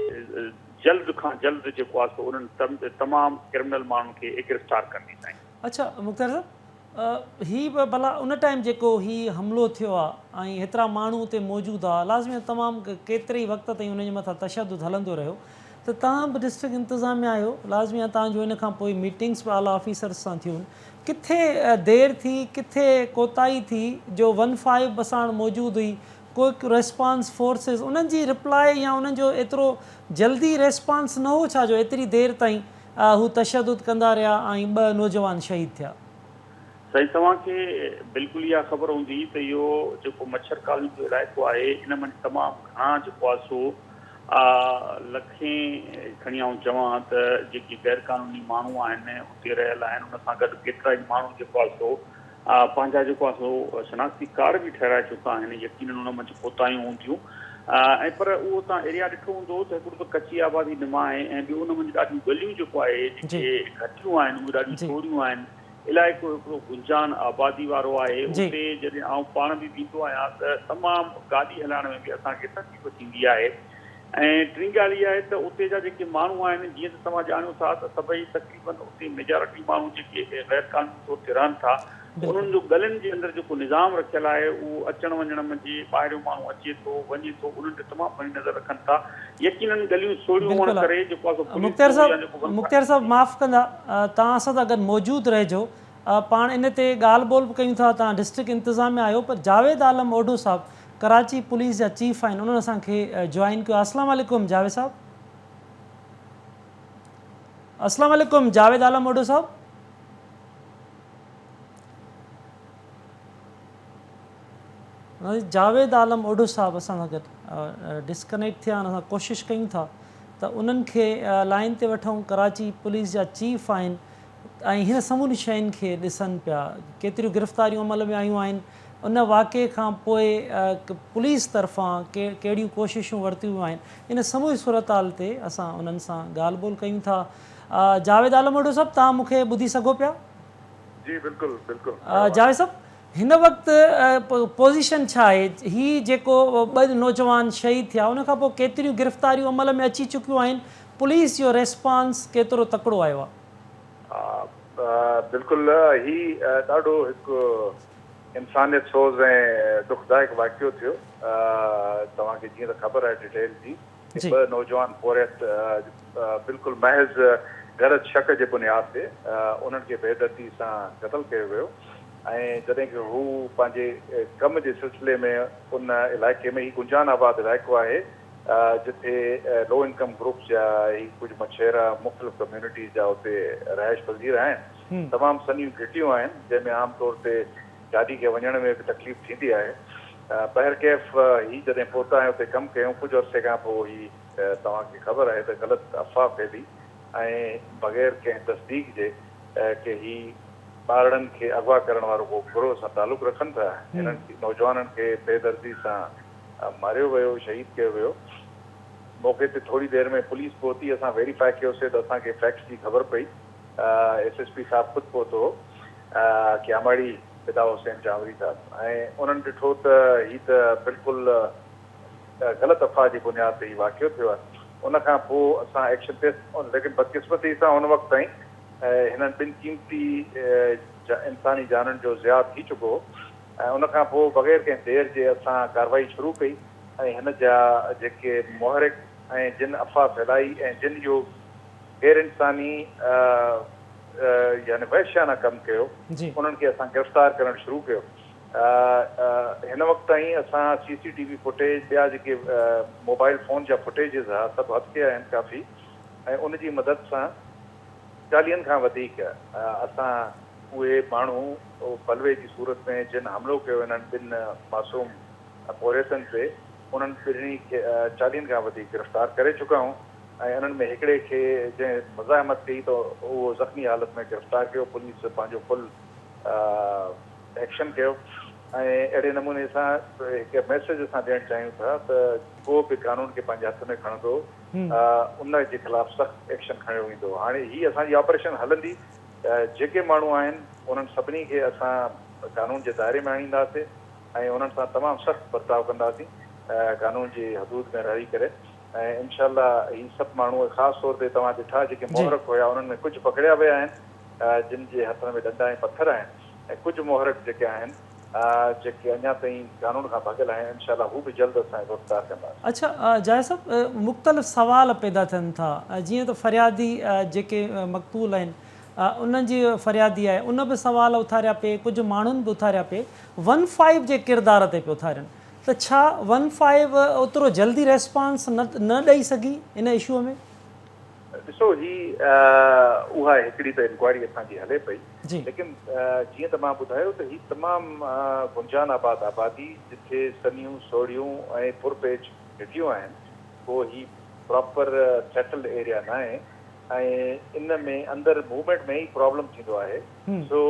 جلد کان جلد جيڪو آهي سو انهن تمام ڪرمنل ماڻهن کي اگرفتار ڪندي سائين. اڇا مختيار صاحب. هي به ڀلا ان ٽائيم جيڪو هي حملو ٿيو آ ۽ هيترا ماڻهو اتي موجود آ لازمي ته تمام ڪيتري ئي وقت تائين انهن جي مٿان تشدد هلندو رهيو ته توهان به ڊسٽرڪٽ انتظاميه آهيو لازمي آ توهان جو ان کان پوء ميٽنگس به اعليٰ آفيسرس سان ٿيون ڪٿي دير ٿي ڪٿي ڪوتاهي ٿي جو ون فائيو به ساڻ موجود هئي ڪوئڪ ريسپانس فورسز انهن جي رپلائي يا انهن جو ايترو جلدي ريسپانس نه هو ڇا جو ايتري دير تائين آء هو تشدد ڪندا رهيا ۽ ٻه نوجوان شهيد ٿيا. سائين توهان کي بلڪل اها خبر هوندي ته اهو جيڪو مڇر ڪالوني جو علائقو آهي ان منجهه تمام گهڻا جيڪو آهي سو آء لکين کڻي آئون چوان ته جيڪي غيرقانوني ماڻهو آهن اتي رهيل آهن ان سان گڏ ڪيترا ئي ماڻهو جيڪو آهي سو پنهنجا جيڪو آهن سو شناختي ڪارڊ به ٺهرائي چڪا آهن، يقينن ان منجهه ڪوتاهيون هونديون ۽ پر اهو توهان ايريا ڏٺو هوندو ته هڪڙو ته ڪچي آبادي نما آهي ۽ ٻيو ان منجهه ڏاڍيون ڳليون جيڪو آهي جيڪي گهٽيون آهن اهي ڏاڍيون سوريون آهن، علائقو هڪڙو گنجان آبادي وارو آهي، اتي جڏهن آئون پاڻ به ويندو آهيان ته تمام گاڏي هلائڻ ۾ به اسان کي تڪليف ٿيندي آهي. ۽ ٽين ڳالهه اها آهي ته اتي جا جيڪي ماڻهو آهن جيئن ته توهان ڄاڻيو ٿا ته سڀئي تقريباً اتي ميجارٽي ماڻهو جيڪي غير قانوني طور تي رهن ٿا انهن جو ڳلين جي اندر جيڪو نظام رکيل آهي اهو اچڻ وڃڻ ۾ جي ٻاهريون ماڻهو اچي ٿو وڃي ٿو انهن تي تمام گهڻي نظر رکن ٿا يقيناً ڳليون سوڙهيون هئڻ ڪري جيڪو آهي سو پوليس جو يا جيڪو ون مختيار صاحب معاف ڪندا توهان اسان سان گڏ موجود رهجو پاڻ ان تي ڳالهه ٻولهه به ڪيون ٿا توهان ڊسٽرڪٽ انتظاميا آهيو پر جاويد عالم اوڍو صاحب ڪراچي پوليس جا چيف آهن انهن اسان کي جوائن ڪيو آهي اسلام عليڪم جاويد صاحب اسلام عليڪم جاويد عالم اوڍو صاحب جاويد عالم اوڍو صاحب اسان سان گڏ ڊسڪنيڪٽ ٿيا اسان ڪوشش ڪيون ٿا ته انهن کي لائن تي وٺون ڪراچي پوليس جا چيف آهن ۽ هن سموري شين کي ڏسن پيا ڪيتريون گرفتاريون عمل ۾ آيون آهن ان واقعي کان پوء پوليس طرفان ڪهڙيون ڪوششون ورتيون ويون آهن ان سموري صورتحال تي اسان انهن سان ڳالهه ٻولهه ڪيون ٿا جاويد عالم وڍو صاحب توهان مون کي ٻڌي سگهو پيا؟ جي بلڪل بلڪل. جاويد صاحب هن وقت پوزيشن ڇا آهي هي جيڪو ٻه نوجوان شهيد ٿيا ان کان پوء ڪيتريون گرفتاريون عمل ۾ اچي چڪيون آهن پوليس جو ريسپانس ڪيترو تڪڙو آيو آهي؟ بلڪل هي ڏاڍو هڪ انسانيت سوز ۽ ڏکدائڪ واقعو ٿيو توهان کي جيئن ته خبر آهي ڊيٽيل جي ته ٻه نوجوان پورهيت بلڪل محض غرض شڪ جي بنياد تي انهن کي بي دردي سان قتل ڪيو ويو ۽ جڏهن ڪه هو پنهنجي ڪم جي سلسلي ۾ ان علائقي ۾ هي گنجان آباد علائقو آهي جتي لو انڪم گروپس جا هي ڪجهه مڇيرا مختلف ڪميونٽيز جا اتي رهائش پذير آهن تمام سنهيون گهٽيون آهن جنهن ۾ عام طور تي گاڏي کي وڃڻ ۾ به تڪليف ٿيندي آهي بهرڪيف هي جڏهن پهتا ۽ اتي ڪم ڪيون ڪجهه عرصي کان پوء هي توهان کي خبر آهي ته غلط افواهه ڦهلي ۽ بغير ڪنهن تصديق جي ڪي هي ٻارڙن کي اغوا ڪرڻ وارو ڪو گروهه سان تعلق رکن ٿا هنن نوجوانن کي بي دردي سان ماريو ويو شهيد ڪيو ويو موقعي تي ٿوري دير ۾ پوليس پهتي اسان ويريفاء ڪيو سي ته اسان کي فيڪٽس جي خبر پئي ايس ايس پي صاحب خود پهتو هو ڪياماڙي فدا حسين چانوري صاحب ۽ انهن ڏٺو ته هي ته بلڪل غلط افواهه جي بنياد تي هي واقعو ٿيو آهي ان کان پوء اسان ايڪشن تي ليڪن بدقسمتي سان ان وقت تائين هنن ٻن قيمتي انساني جانن جو ضياع ٿي چڪو هو ۽ ان کان پوء بغير ڪنهن دير جي اسان ڪارروائي شروع ڪئي ۽ هن جا جيڪي محرڪ ۽ جن افواهه ڦهلائي ۽ جن اهو غير انساني يعني وحشيانه ڪم ڪيو انهن کي اسان گرفتار ڪرڻ شروع ڪيو هن وقت تائين اسان C C T V footage ٻيا جيڪي موبائل فون جا فوٽيجز ها سڀ هٿ ڪيا آهن ڪافي ۽ ان جي مدد سان چاليهن کان وڌيڪ اسان اهي ماڻهو او بلوي جي صورت ۾ جن حملو ڪيو انهن ٻن معصوم پورهيتن تي، انهن ٻنهي کي چاليهن کان وڌيڪ گرفتار ڪري چڪا آهيون ۽ انهن ۾ هڪڙي کي جنهن مزاحمت ڪئي ته اهو زخمي حالت ۾ گرفتار ڪيو، پوليس پنهنجو فل ايڪشن ڪيو ۽ اهڙي نموني اسان هڪ ميسيج اسان ڏيڻ چاهيون ٿا ته ڪو به قانون کي پنهنجي هٿ ۾ کڻندو ان جي خلاف سخت ايڪشن کڻيو ويندو، هاڻي هي اسان جي آپريشن هلندي جيڪي ماڻهو آهن انهن سڀني کي اسان قانون جي دائري ۾ آڻينداسي ۽ انهن سان تمام سخت برتاء ڪنداسين قانون جي حدود ۾ رهي ڪري ۽ انشاء الله هي سڀ ماڻهو خاص طور تي توهان ڏٺا جيڪي محرڪ هيا انهن ۾ ڪجهه پڪڙيا ويا آهن جن جي هٿن ۾ ڏنڊا ۽ پٿر آهن ۽ ڪجهه محرڪ جيڪي آهن جيڪي اڃا تائين قانون کان ڀڳل آهن انشاء الله هو به جلد اسان کي گرفتار ڪنداسين. اڇا جاويد صاحب مختلف سوال پيدا ٿين ٿا جيئن ته فريادي جيڪي مقتول آهن انهن جي فريادي آهي ان به سوال اٿاريا پئي ڪجهه ماڻهن به اٿاريا پئي ون فائيو جي ڪردار تي پئي اٿارين ته ڇا ون فائيو اوترو جلدي ريسپانس نه ڏئي سگهي ان اشوء ۾؟ ڏسو هي اها هڪڙي ته انڪوائري اسان جي هلي پئي ليڪن جيئن ته مان ٻڌايو ته هي تمام گنجان آباد آبادي جتي سنيون سوڙهيون ۽ پر پيچ گهٽيون آهن ڪو هي پراپر سيٽلڊ ايريا ناهي ۽ ان ۾ اندر موومينٽ ۾ ئي پرابلم ٿيندو آهي سو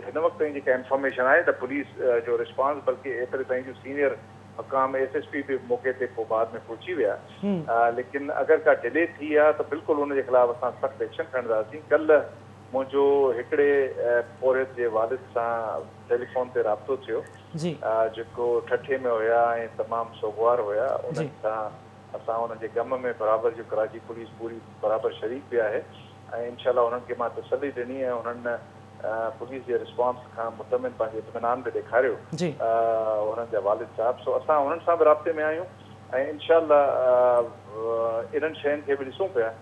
هن وقت تائين جيڪا انفارميشن آهي ته پوليس جو رسپانس بلڪه ايتري تائين جو سينيئر حڪام ايس ايس پي به موقعي تي پوء بعد ۾ پهچي ويا ليڪن اگر ڪا ڊلي ٿي ها ته بلڪل ان جي خلاف اسان سخت ايڪشن کڻنداسين ڪلهه منهنجو هڪڙي پورهيت جي والد سان ٽيليفون تي رابطو ٿيو جيڪو ٺٺي ۾ هيا ۽ تمام سوگوار هيا انهن سان اسان انهن جي غم ۾ برابر جو ڪراچي پوليس پوري برابر شريڪ به آهي ۽ انشاء الله انهن کي مان تسلي ڏني ۽ انهن پوليس جي رسپانس کان مطمئن پنهنجو اطمينان به ڏيکاريو انهن جا والد صاحب سو اسان انهن سان به رابطي ۾ آهيون ۽ انشاء الله انهن شين کي به ڏسون پيا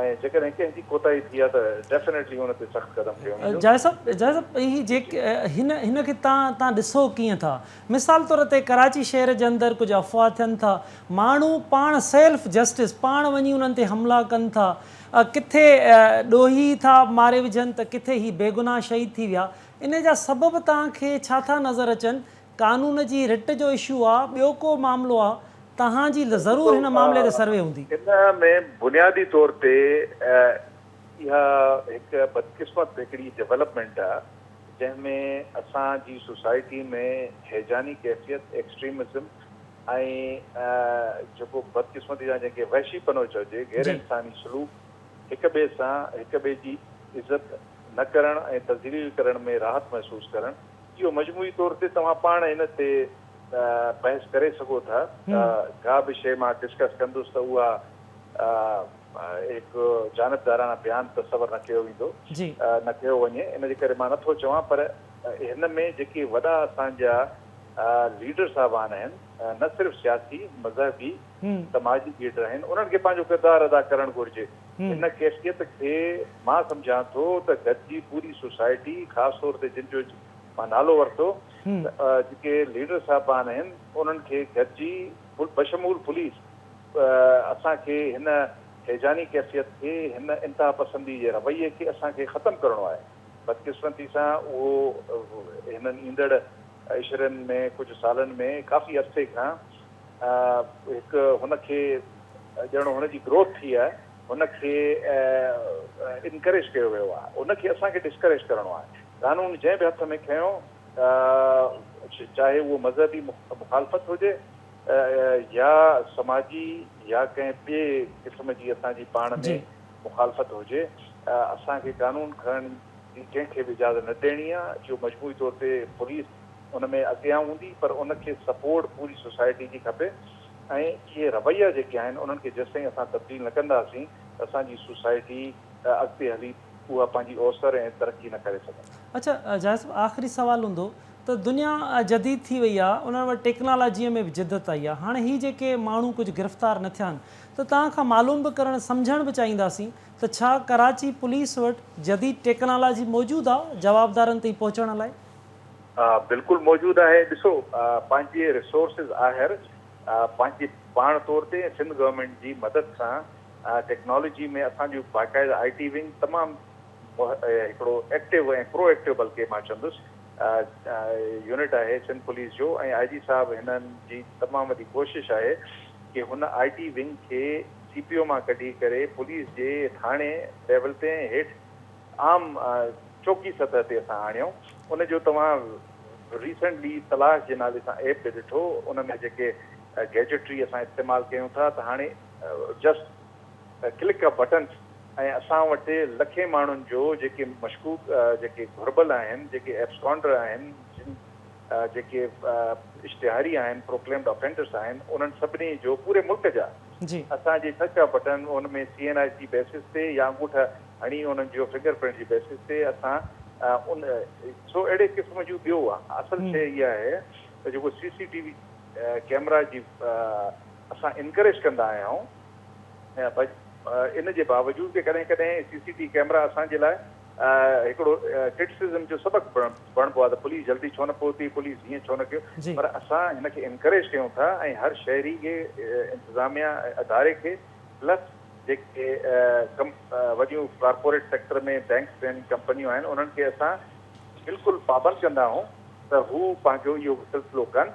۽ جيڪڏهن ڪنهن جي ڪوتاهي ٿي آهي ته ڊيفنيٽلي ان تي سخت قدم کنيو ويندو. جاويد صاحب جاويد صاحب هي جي هن هن کي تان تان ڏسو ڪيئن ٿا مثال طور تي ڪراچي شهر جي اندر ڪجهه افواهه ٿين ٿا ماڻهو پاڻ سيلف جسٽس پاڻ وڃي انهن تي حملا ڪن ٿا ڪٿي ڏوهي ٿا ماري وجهن ته ڪٿي هي بيگناهه شهيد ٿي ويا. انهي جا سبب توهان کي ڇا ٿا نظر اچن؟ قانون جي رٽ جو اشو آ، ٻيو ڪو معاملو آ؟ توهان جي ضرور هن معاملي تي سروي هوندي. ان ۾ بنيادي طور تي اها هڪ بدقسمت هڪڙي ڊيولپمينٽ آ، جنهن ۾ اسان جي سوسائٽي ۾ هيجاني ڪيفيت، ايڪسٽريمزم، ۽ جيڪو بدقسمتي سان جنهن کي وحشي پنو چئجي، غير انساني سلوڪ، هڪ ٻئي سان هڪ ٻئي جي عزت نه ڪرڻ ۽ تذليل ڪرڻ ۾ راحت محسوس ڪرڻ، اهو مجموعي طور تي توهان پاڻ ان تي بحث ڪري سگهو ٿا ته ڪا به شيء مان ڊسڪس ڪندس ته اها هڪ جانبداراڻه بيان تصور نه ڪيو ويندو نه ڪيو وڃي ان جي ڪري مان نه ٿو چوان پر هن ۾ جيڪي وڏا اسان جا ليڊر صاحبان آهن نه صرف سياسي، مذهبي، سماجي ليڊر آهن انهن کي پنهنجو ڪردار ادا ڪرڻ گهرجي ان ڪيفيت کي مان سمجهان ٿو ته گڏجي پوري سوسائٽي خاص طور تي جن جو مان نالو ورتو جيڪي ليڊر صاحبان آهن انهن کي گڏجي بشمول پوليس اسان کي هن هيجاني ڪيفيت کي هن انتها پسندي جي رويي کي اسان کي ختم ڪرڻو آهي. بدقسمتي سان اهو هنن ايندڙ عشرين ۾ ڪجهه سالن ۾ ڪافي عرصي کان هڪ هن کي ڄڻ هن جي گروٿ ٿي آهي هن کي انڪريج ڪيو ويو آهي ان کي اسان کي ڊسڪريج ڪرڻو آهي قانون جنهن به هٿ ۾ کنيو چاهي اهو مذهبي مخالفت هجي يا سماجي يا ڪنهن ٻئي قسم جي اسان جي پاڻ ۾ مخالفت هجي، اسان کي قانون کڻڻ جي ڪنهن کي به اجازت نه ڏيڻي آهي. اهو مجموعي طور تي پوليس ان ۾ اڳيان هوندي پر ان کي سپورٽ پوري سوسائٽي جي کپي ۽ اهي رويا جيڪي آهن انهن کي جيستائين اسان تبديل نه ڪنداسين ته اسان جي سوسائٽي اڳتي هلي اها پنهنجي اوسر ۽ ترقي نه ڪري سگهندا. اڇا جاويد صاحب آخري سوال هوندو ته دنيا جديد ٿي وئي آ انهن وٽ ٽيڪنالاجي ۾ به جدت آئي آ هاڻي هي جيڪي ماڻهو ڪجهه گرفتار نه ٿيا آهن ته توهان کان معلوم به ڪرڻ سمجهڻ به چاهينداسين ته ڇا ڪراچي پوليس وٽ جديد ٽيڪنالاجي موجود آ جوابدارن تائين پهچڻ لاء؟ ها بلڪل موجود آهي ڏسو پنهنجي ريسورسز آهر پنهنجي پاڻ طور تي ۽ سنڌ گورنمينٽ جي مدد سان ٽيڪنالاجي ۾ اسان جو باقاعده آء ٽي ونگ تمام هڪڙو ايڪٽو ۽ پرو ايڪٽو بلڪه مان چوندس يونٽ آهي سنڌ پوليس جو ۽ آء جي صاحب هنن جي تمام وڏي ڪوشش آهي ڪي هن آء ٽي ونگ کي سي پي او مان ڪڍي ڪري پوليس جي ٿاڻي ليول تي ۽ هيٺ عام چوڪي سطح تي اسان آڻيون ان جو توهان ريسنٽلي تلاش جي نالي سان ايپ به ڏٺو ان ۾ جيڪي گيجٽري اسان استعمال ڪيون ٿا ته هاڻي جسٽ ڪلڪ اي بٽن ۽ اسان وٽ لکين ماڻهن جو جيڪي مشڪوڪ جيڪي گهربل آهن جيڪي ايبسڪانڊر آهن جن جيڪي اشتهاري آهن پروڪليمڊ افينڊرس آهن انهن سڀني جو پوري ملڪ جا اسان جي ڇهه ڇهه بٽن ان ۾ C N I C basis تي يا انگوٺا هڻي انهن جو فنگر پرنٽ جي بيسس تي اسان ان سو اهڙي قسم جون ٻيو اصل شيء اها آهي ته جيڪو C C T V camera جي اسان انڪريج ڪندا آهيائون ۽ ان جي باوجود به ڪڏهن ڪڏهن سي سي ٽي ڪيمرا اسان جي لاء هڪڙو ڪرٽسزم جو سبق بڻبو آهي ته پوليس جلدي ڇو نه پهتي پوليس هيئن ڇو نه ڪيو پر اسان هن کي انڪريج ڪيون ٿا ۽ هر شهري کي انتظاميا ۽ اداري کي پلس جيڪي وڏيون ڪارپوريٽ سيڪٽر ۾ بينڪس آهن ڪمپنيون آهن انهن کي اسان بلڪل پابند ڪندا آهيون ته هو پنهنجو اهو سلسلو ڪن.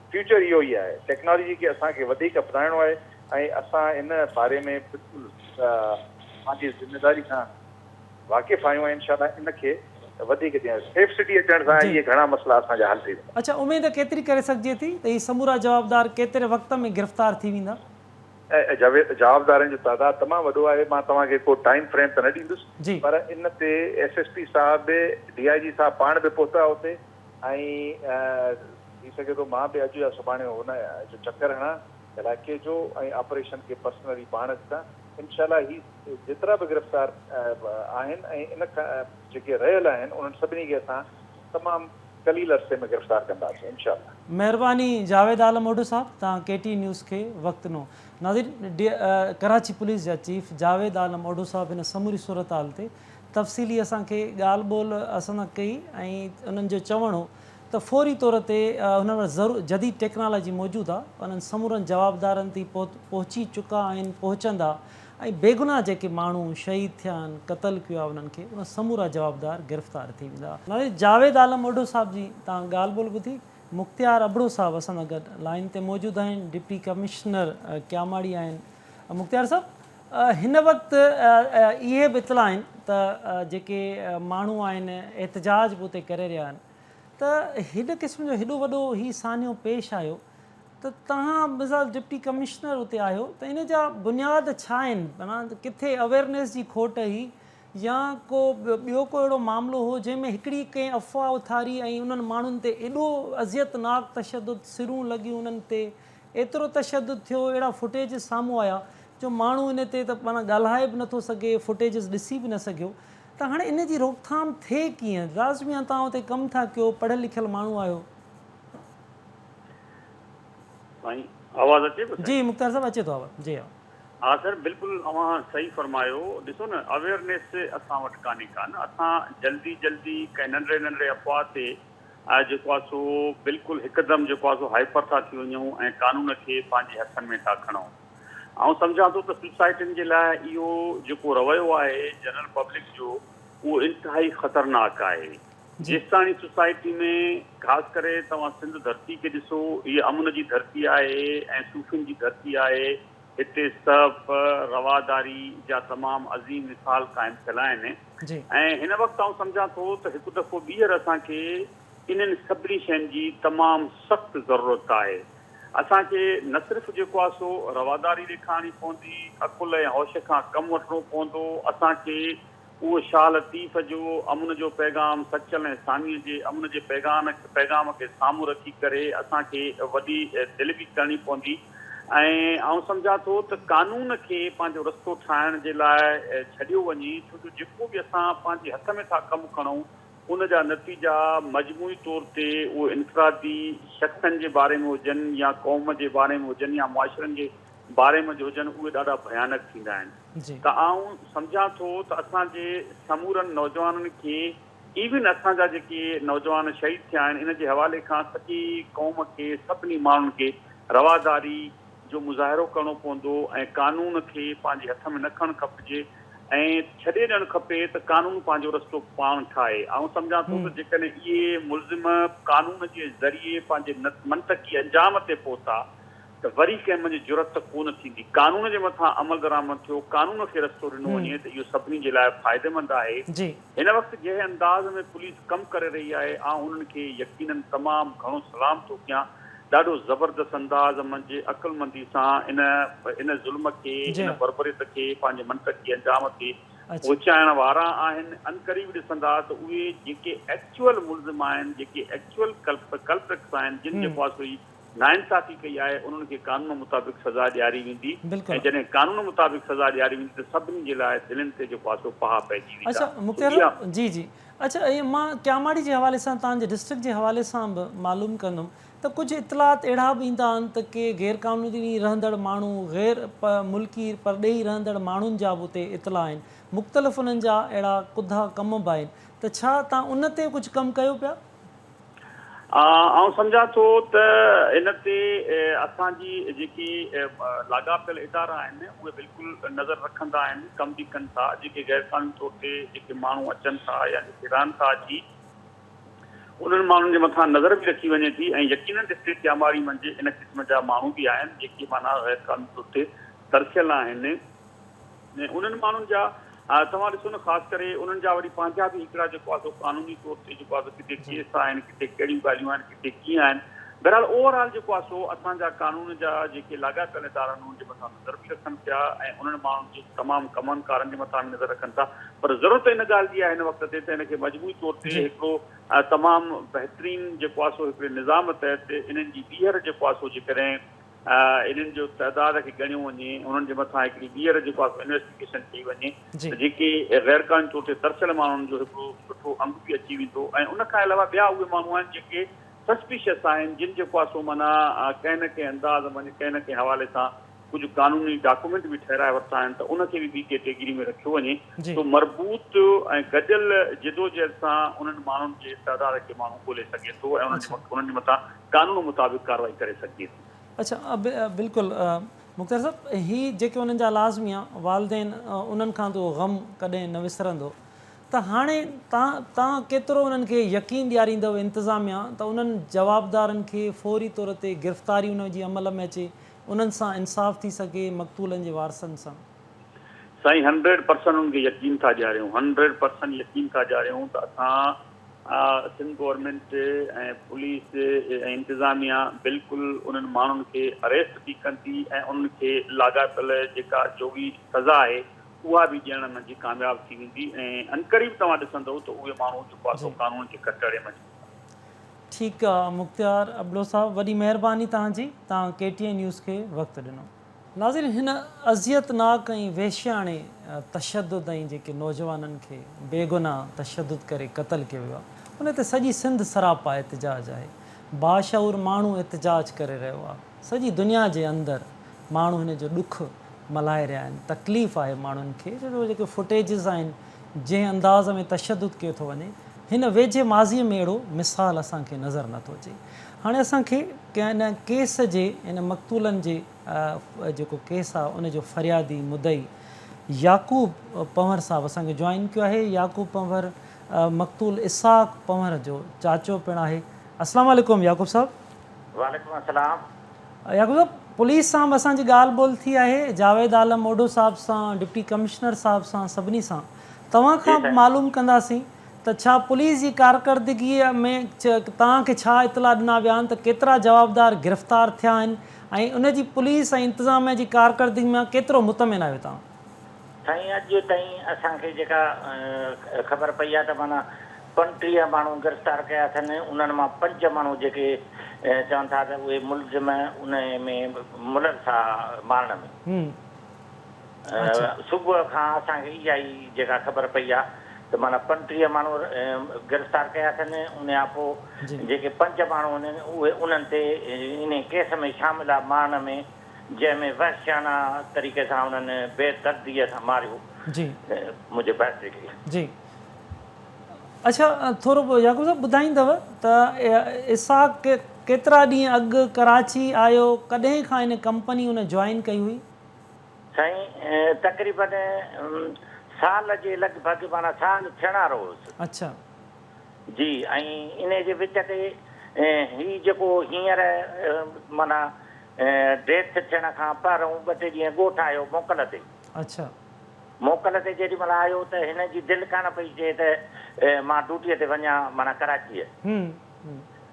فيوچر اهو ئي آهي، ٽيڪنالاجي کي اسان کي وڌيڪ اپنائڻو آهي ۽ اسان ان باري ۾ بلڪل پنهنجي ذميواري کان واقف آهيون ۽ انشاء الله ان کي وڌيڪ جيئن سيف سٽي اچڻ سان اهي گهڻا مسئلا اسان جا حل ٿي ويندا. اچا اميد ڪيتري ڪري سگهجي ٿي ته هي سمورا جوابدار ڪيتري وقت ۾ گرفتار ٿي ويندا؟ جاويد جوابدارن جو تعداد تمام وڏو آهي مان توهان کي ڪو ٽائيم فريم ته نه ڏيندس پر ان تي ايس ايس پي صاحب به ڊي آء جي صاحب پاڻ به پهتا اتي ائين ٿي سگهي ٿو مان به اڄ يا سڀاڻي هن جو چڪر هڻان علائقي جو ۽ آپريشن کي پرسنلي پاڻ ڏسان انشاء الله هي جيترا به گرفتار آهن ۽ ان کان جيڪي رهيل آهن انهن سڀني کي اسان تمام قليل عرصي ۾ گرفتار ڪنداسين انشاء الله. مهرباني جاويد عالم اوڍو صاحب توهان ڪي ٽي نيوز کي وقت ڏنو. ناظرين ڊي ڪراچي پوليس جا چيف جاويد عالم اوڍو صاحب هن سموري صورتحال تي تفصيلي اسان کي ڳالهه ٻولهه اسان سان ڪئي ۽ انهن جو چوڻ هو ته فوري طور تي هنن وٽ ضرور جديد ٽيڪنالاجي موجود آ انهن سمورن جوابدارن تي پهچي چڪا آهن پهچندا ۽ بيگناهه جيڪي ماڻهو شهيد ٿيا آهن قتل ڪيو آ انهن کي اهي سمورا جوابدار گرفتار ٿي ويندا. نالي جاويد عالم اوڍو صاحب جي تان ڳالهه ٻولهه ٻڌي مختيار ابڙو صاحب اسان سان گڏ لائين تي موجود آهن ڊپٽي ڪمشنر ڪياماڙي آهن مختيار صاحب هن وقت اهي به اطلاع آهن ته جيڪي ماڻهو آهن احتجاج به اتي ڪري رهيا آهن ته هن قسم جو هيڏو وڏو هي سانحو پيش آيو ته توهان مثال ڊپٽي ڪمشنر اتي آهيو ته ان جا بنياد ڇا آهن معنيٰ ڪٿي اويرنيس جي کوٽ هئي يا ڪو ٻيو ڪو اهڙو معاملو هو جنهن ۾ هڪڙي ڪنهن افواهه اٿاري ۽ انهن ماڻهن تي ايڏو اذيتناڪ تشدد سرون لڳيون انهن تي ايترو تشدد ٿيو، اهڙا فوٽيجز سامهون آيا جو ماڻهو ان تي ته معنيٰ ڳالهائي به نٿو سگهي، فوٽيجز ڏسي به نه سگهيو ته هاڻي ان جي روڪٿام ٿئي ڪيئن؟ راز ميان توهان اتي ڪم ٿا ڪيو، پڙهيل لکيل ماڻهو آهيو. سائين آواز اچي پيو سائين. جي مختيار صاحب اچي ٿو آواز جي ها. ها سر بلڪل اوهان صحيح فرمايو ڏسو نه اويرنيس اسان وٽ ڪانهي ڪا نه اسان جلدي جلدي ڪنهن ننڍڙي ننڍڙي افواهه تي آء جيڪو آ سو بلڪل هڪدم جيڪو آ سو هائپر ٿا ٿي وڃون ۽ قانون کي پنهنجي هٿن ۾ ٿا کڻون. آئون سمجهان ٿو ته سوسائٽين جي لاء اهو جيڪو رويو آهي جنرل پبلڪ جو اهو انتهائي خطرناڪ آهي. جيستاڻي سوسائٽي ۾ خاص ڪري توهان سنڌ ڌرتي کي ڏسو هيء امن جي ڌرتي آهي ۽ صوفين جي ڌرتي آهي هتي سهپ، رواداري جا تمام عظيم مثال قائم ٿيل آهن. جي. ۽ هن وقت آئون سمجهان ٿو ته هڪ دفعو ٻيهر اسان کي انهن سڀني شين جي تمام سخت ضرورت آهي. اسان کي نه صرف جيڪو آهي سو رواداري ڏيکارڻي پوندي، عقل ۽ هوش کان ڪم وٺڻو پوندو، اسان کي اهو شاهه لطيف جو امن جو پيغام سچل ۽ ثانيء جي امن جي پيغان پيغام کي سامهون رکي ڪري اسان کي وڏي دل به ڪرڻي پوندي. ۽ آئون سمجهان ٿو ته قانون کي پنهنجو رستو ٺاهڻ جي لاء ڇڏيو وڃي ڇو جو جيڪو به اسان پنهنجي هٿ ۾ ٿا ڪم کڻون ان جا نتيجا مجموعي طور تي اهي انفرادي شخصن جي باري ۾ هجن يا قوم جي باري ۾ هجن يا معاشرن جي باري ۾ هجن اهي ڏاڍا ڀيانڪ ٿيندا آهن ته آئون سمجهان ٿو ته اسان جي سمورن نوجوانن کي ايون اسان جا جيڪي نوجوان شهيد ٿيا آهن ان جي حوالي کان سڄي قوم کي سڀني ماڻهن کي رواداري جو مظاهرو ڪرڻو پوندو ۽ قانون کي پنهنجي هٿ ۾ نه کڻڻ کپجي ۽ ڇڏي ڏيڻ کپي ته قانون پنهنجو رستو پاڻ ٺاهي آئون سمجهان ٿو ته جيڪڏهن اهي ملزم قانون جي ذريعي پنهنجي منطقي انجام تي پهتا ته وري ڪنهن منجهه جرئت ته ڪونه ٿيندي قانون جي مٿان عملدرآمد ٿيو قانون کي رستو ڏنو وڃي ته اهو سڀني جي لاء فائديمند آهي هن وقت جنهن انداز ۾ پوليس ڪم ڪري رهي آهي آئون انهن کي يقيناً تمام گهڻو سلام ٿو ڪيان ڏاڍو زبردست انداز منجهه عقلمندي سان ان ان ظلم کي ان بربريت کي پنهنجي منطقي انجام تي پهچائڻ وارا آهن عنقريب ڏسندا ته اهي جيڪي ايڪچوئل ملزم آهن جيڪي ايڪچوئل ڪلپرٽس آهن جن جي پاس هئي ناانصافي ڪئي آهي انهن کي قانون مطابق سزا ڏياري ويندي ۽ جڏهن قانون مطابق سزا ڏياري ويندي ته سڀني جي لاء دلين تي جيڪو آسو پاها پئجي ويندا اچا مختيار صاحب جي جي اچا ائين مان ڪياماڙي جي حوالي سان توهان جي ڊسٽرڪٽ جي حوالي سان به معلوم ڪندم ته ڪجهه اطلاعات اهڙا به ايندا آهن ته ڪي غير قانوني رهندڙ ماڻهو غير ملڪي پرڏيهي رهندڙ ماڻهن جا به اتي اطلاع آهن مختلف انهن جا اهڙا ڪڌا ڪم به آهن ته ڇا توهان ان تي ڪجهه ڪم ڪيو پيا آئون سمجهان ٿو ته ان تي اسان جي جيڪي لاڳاپيل ادارا آهن اهي بلڪل نظر رکندا آهن ڪم به ڪن ٿا جيڪي غير قانوني طور تي جيڪي ماڻهو اچن ٿا يا جيڪي رهن ٿا اچي انهن ماڻهن جي مٿان نظر به رکي وڃي ٿي ۽ يقينن ڊسٽرڪٽ ڄاماري منجهه ان قسم جا ماڻهو به آهن جيڪي معنيٰ غير قانوني طور تي ترسيل آهن ۽ انهن ماڻهن جا توهان ڏسو نه خاص ڪري انهن جا وري پنهنجا به هڪڙا جيڪو آهي سو قانوني طور تي جيڪو آهي سو ڪٿي ڪيس آهن ڪٿي ڪهڙيون ڳالهيون آهن ڪٿي ڪيئن آهن بهرحال اوور آل جيڪو آهي سو اسان جا قانون جا جيڪي لاڳاپيل ادارا آهن انهن جي مٿان نظر به رکن پيا ۽ انهن ماڻهن جي تمام ڪمن ڪارن جي مٿان به نظر رکن ٿا پر ضرورت ان ڳالهه جي آهي هن وقت تي ته هن کي مجموعي طور تي هڪڙو تمام بهترين جيڪو آهي سو هڪڙي نظام تحت انهن جي ٻيهر جيڪو آهي سو جيڪڏهن انهن جو تعداد کي ڳڻيو وڃي انهن جي مٿان هڪڙي ٻيهر جيڪو آهي سو انويسٽيگيشن ڪئي وڃي ته جيڪي غير قانوني طور تي ترسيل ماڻهن جو هڪڙو سٺو انگ به اچي ويندو ۽ ان کان علاوه ٻيا اهي ماڻهو آهن جيڪي سسپيشس آهن جن جيڪو آهي سو معنيٰ ڪنهن نه ڪنهن انداز ۾ ڪنهن نه ڪنهن حوالي سان ڪجهه قانوني ڊاڪومينٽ به ٺهرائي ورتا آهن ته ان کي به ٻي ڪيٽيگري ۾ رکيو وڃي سو مربوط ۽ گڏيل جدوجهد سان انهن ماڻهن جي تعداد کي ماڻهو ڳولي سگهي ٿو ۽ انهن جي مٿان قانون مطابق ڪارروائي ڪري سگهجي ٿي. اڇا بلڪل مختيار صاحب هي جيڪي انهن جا لازميا والدين انهن کان اهو غم ڪڏهن نه وسرندو ته هاڻي تان تان ڪيترو انهن کي يقين ڏياريندو انتظاميا ته انهن جوابدارن کي فوري طور تي گرفتاري انهن جي عمل ۾ اچي انهن سان انصاف ٿي سگهي مقتولن جي وارثن سان. سائين هنڊريڊ پرسنٽ انهن کي يقين ٿا ڏياريون هنڊريڊ پرسنٽ يقين ٿا ڏياريون ته اسان. سنڌ گورنمينٽ ۽ پوليس ۽ انتظاميا بلڪل انهن ماڻهن کي اريسٽ به ڪن ٿي ۽ انهن کي لاڳاپيل جيڪا جوڳي سزا آهي اها به ڏيڻ منجهه ڪامياب ٿي ويندي ۽ عنقريب توهان ڏسندئو ته اهي ماڻهو جيڪو آسو قانون جي ڪٽهڙي منجهه هوندا. ٺيڪ آ مختيار ابڙو صاحب وڏي مهرباني توهان جي توهان ڪي ٽي اين نيوز کي وقت ڏنو. ناظرين هن اذيت ناڪ ۽ وحشياڻي تشدد ۽ جيڪي نوجوانن کي بيگناھ تشدد ڪري قتل ڪيو ويو آهي ان تي سڄي سنڌ سراپا احتجاج آهي باشعور ماڻهو احتجاج ڪري رهيو آهي سڄي دنيا جي اندر ماڻهو هن جو ڏک ملهائي رهيا آهن تڪليف آهي ماڻهن کي ڇو جو جيڪي فوٽيجز آهن جنهن انداز ۾ تشدد ڪيو ٿو وڃي هن ويجهي ماضي ۾ اهڙو مثال اسان کي نظر نٿو اچي هاڻي اسان کي ان ڪيس جي ان مقتولن جي جيڪو ڪيس آ ان جو فريادي مدعي يعقوب پنهور صاحب اسان کي جوائن ڪيو آهي يعقوب پنهور مقتول اسحاق پنهور جو چاچو پڻ آهي اسلام عليڪم يعقوب صاحب. وعليڪم السلام. يعقوب صاحب پوليس سان به اسان جي ڳالهه ٻولهه ٿي آهي جاويد عالم اوڍو صاحب سان ڊپٽي ڪمشنر صاحب سان سڀني سان توهان کان معلوم ڪنداسين ته ڇا پوليس جي ڪارڪردگيء ۾ توهان کي ڇا اطلاع ڏنا ويا آهن ته ڪيترا جوابدار گرفتار ٿيا آهن ۽ ان جي پوليس ۽ انتظاميه جي ڪارڪردگي مان ڪيترو مطمئن آهيو توهان؟ سائين اڄ تائين اسان کي جيڪا خبر پئي آهي ته معنيٰ پنٽيهه ماڻهو گرفتار ڪيا اٿن انهن مان پنج ماڻهو جيڪي چون ٿا ته اهي ملزم انهيء ۾ ملوث ها مارڻ ۾. صبح کان اسان کي اها ئي جيڪا خبر پئي آهي ته معنيٰ پنٽيهه ماڻهو گرفتار ڪيا اٿن ان کان پوء جيڪي پنج ماڻهو هن اهي انهن تي انهي ڪيس ۾ شامل آهي ماڻهن ۾ جنهن ۾ وحشيانا طريقي سان انهن بي دردي سان ماريو منهنجي ڀائٽي کي. جي اڇا ٿورو يعقوب صاحب ٻڌائيندو ته اسحاق ڪيترا ڏينهن اڳ ڪراچي آيو ڪڏهن کان هن ڪمپني هن جوائن ڪئي هئي؟ سائين تقريبن سال جي لڳ ڀڳ معنيٰ سال ٿيڻ وارو هوس. اڇا. جي ۽ انهي جي وچ تي هي جيڪو هينئر معنيٰ ڊيٿ ٿيڻ کان پهرئون ٻه ٽي ڏينهن ڳوٺ آيو موڪل تي. اڇا. موڪل تي جيڏي مهل آيو ته هن جي دل ڪانه پئي چئي ته مان ڊوٽيء تي وڃان معنيٰ ڪراچيء.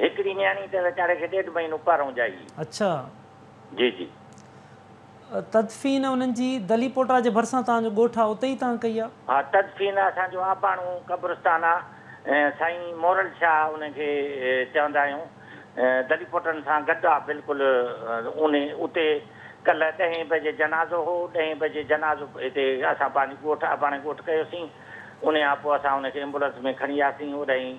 هڪڙي نياڻي ته ويچاري کي ڏيڍ مهينو پارئون ڄائي هئي. اڇا. جي جي. تدفين انهن جي دلي پوٽا جي ڀرسان توهان جو ڳوٺ آ اتي ئي توهان ڪئي آ؟ ها تدفين اسان جو آباڻو قبرستان آ سائين مورل شاهه انهن کي چوندا آهيون دلي پوٽن سان گڏ آ بلڪل اونهي اتي ڪلهه ڏهين بجي جنازو هو ڏهين بجي جنازو هتي اسان پنهنجي ڳوٺ آباڻي ڳوٺ ڪيوسين انهي آپو اسان انهن کي ايمبولنس ۾ کڻي آياسين اوڏانهين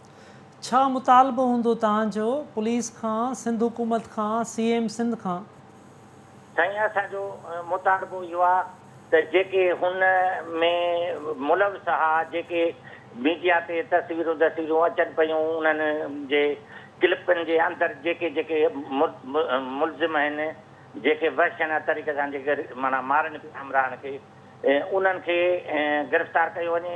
ڇا مطالبو هوندو توهان جو پوليس کان سنڌ حڪومت کان سي ايم سنڌ کان. سائين اسان جو مطالبو اهو آ ته جيڪي هن ۾ ملوث آ جيڪي ميڊيا تي تصويرون تصويرون اچن پيون انهن جي ڪلپن جي اندر جيڪي جيڪي ملزم آهن جيڪي وحشيانه طريقي سان جيڪي معنيٰ مارن پيا همراهن کي انهن کي گرفتار ڪيو وڃي.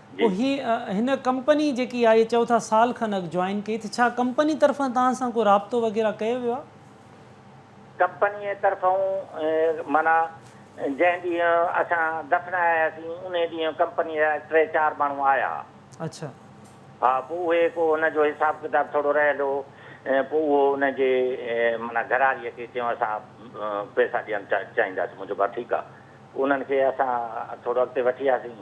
جي. هي هن ڪمپني جيڪي آهي چئو ٿا سال کن اڳ جوائن ڪئي ته ڇا ڪمپني طرفان توهان سان ڪو رابطو وغيره ڪيو ويو آهي؟ ڪمپنيء طرفون معنيٰ جنهن ڏينهن اسان دفناياسين انهي ڏينهن ڪمپنيء جا ٽي چار ماڻهو آيا. اڇا. ها پوء اهي ڪو ان جو حساب ڪتاب ٿورو رهيل هو پوء اهو ان جي معنيٰ گهراريء کي چيون اسان پئسا ڏيڻ چاهينداسين مون چيو ڀا ٺيڪ آهي انهن کي اسان ٿورو اڳتي وٺي آياسين.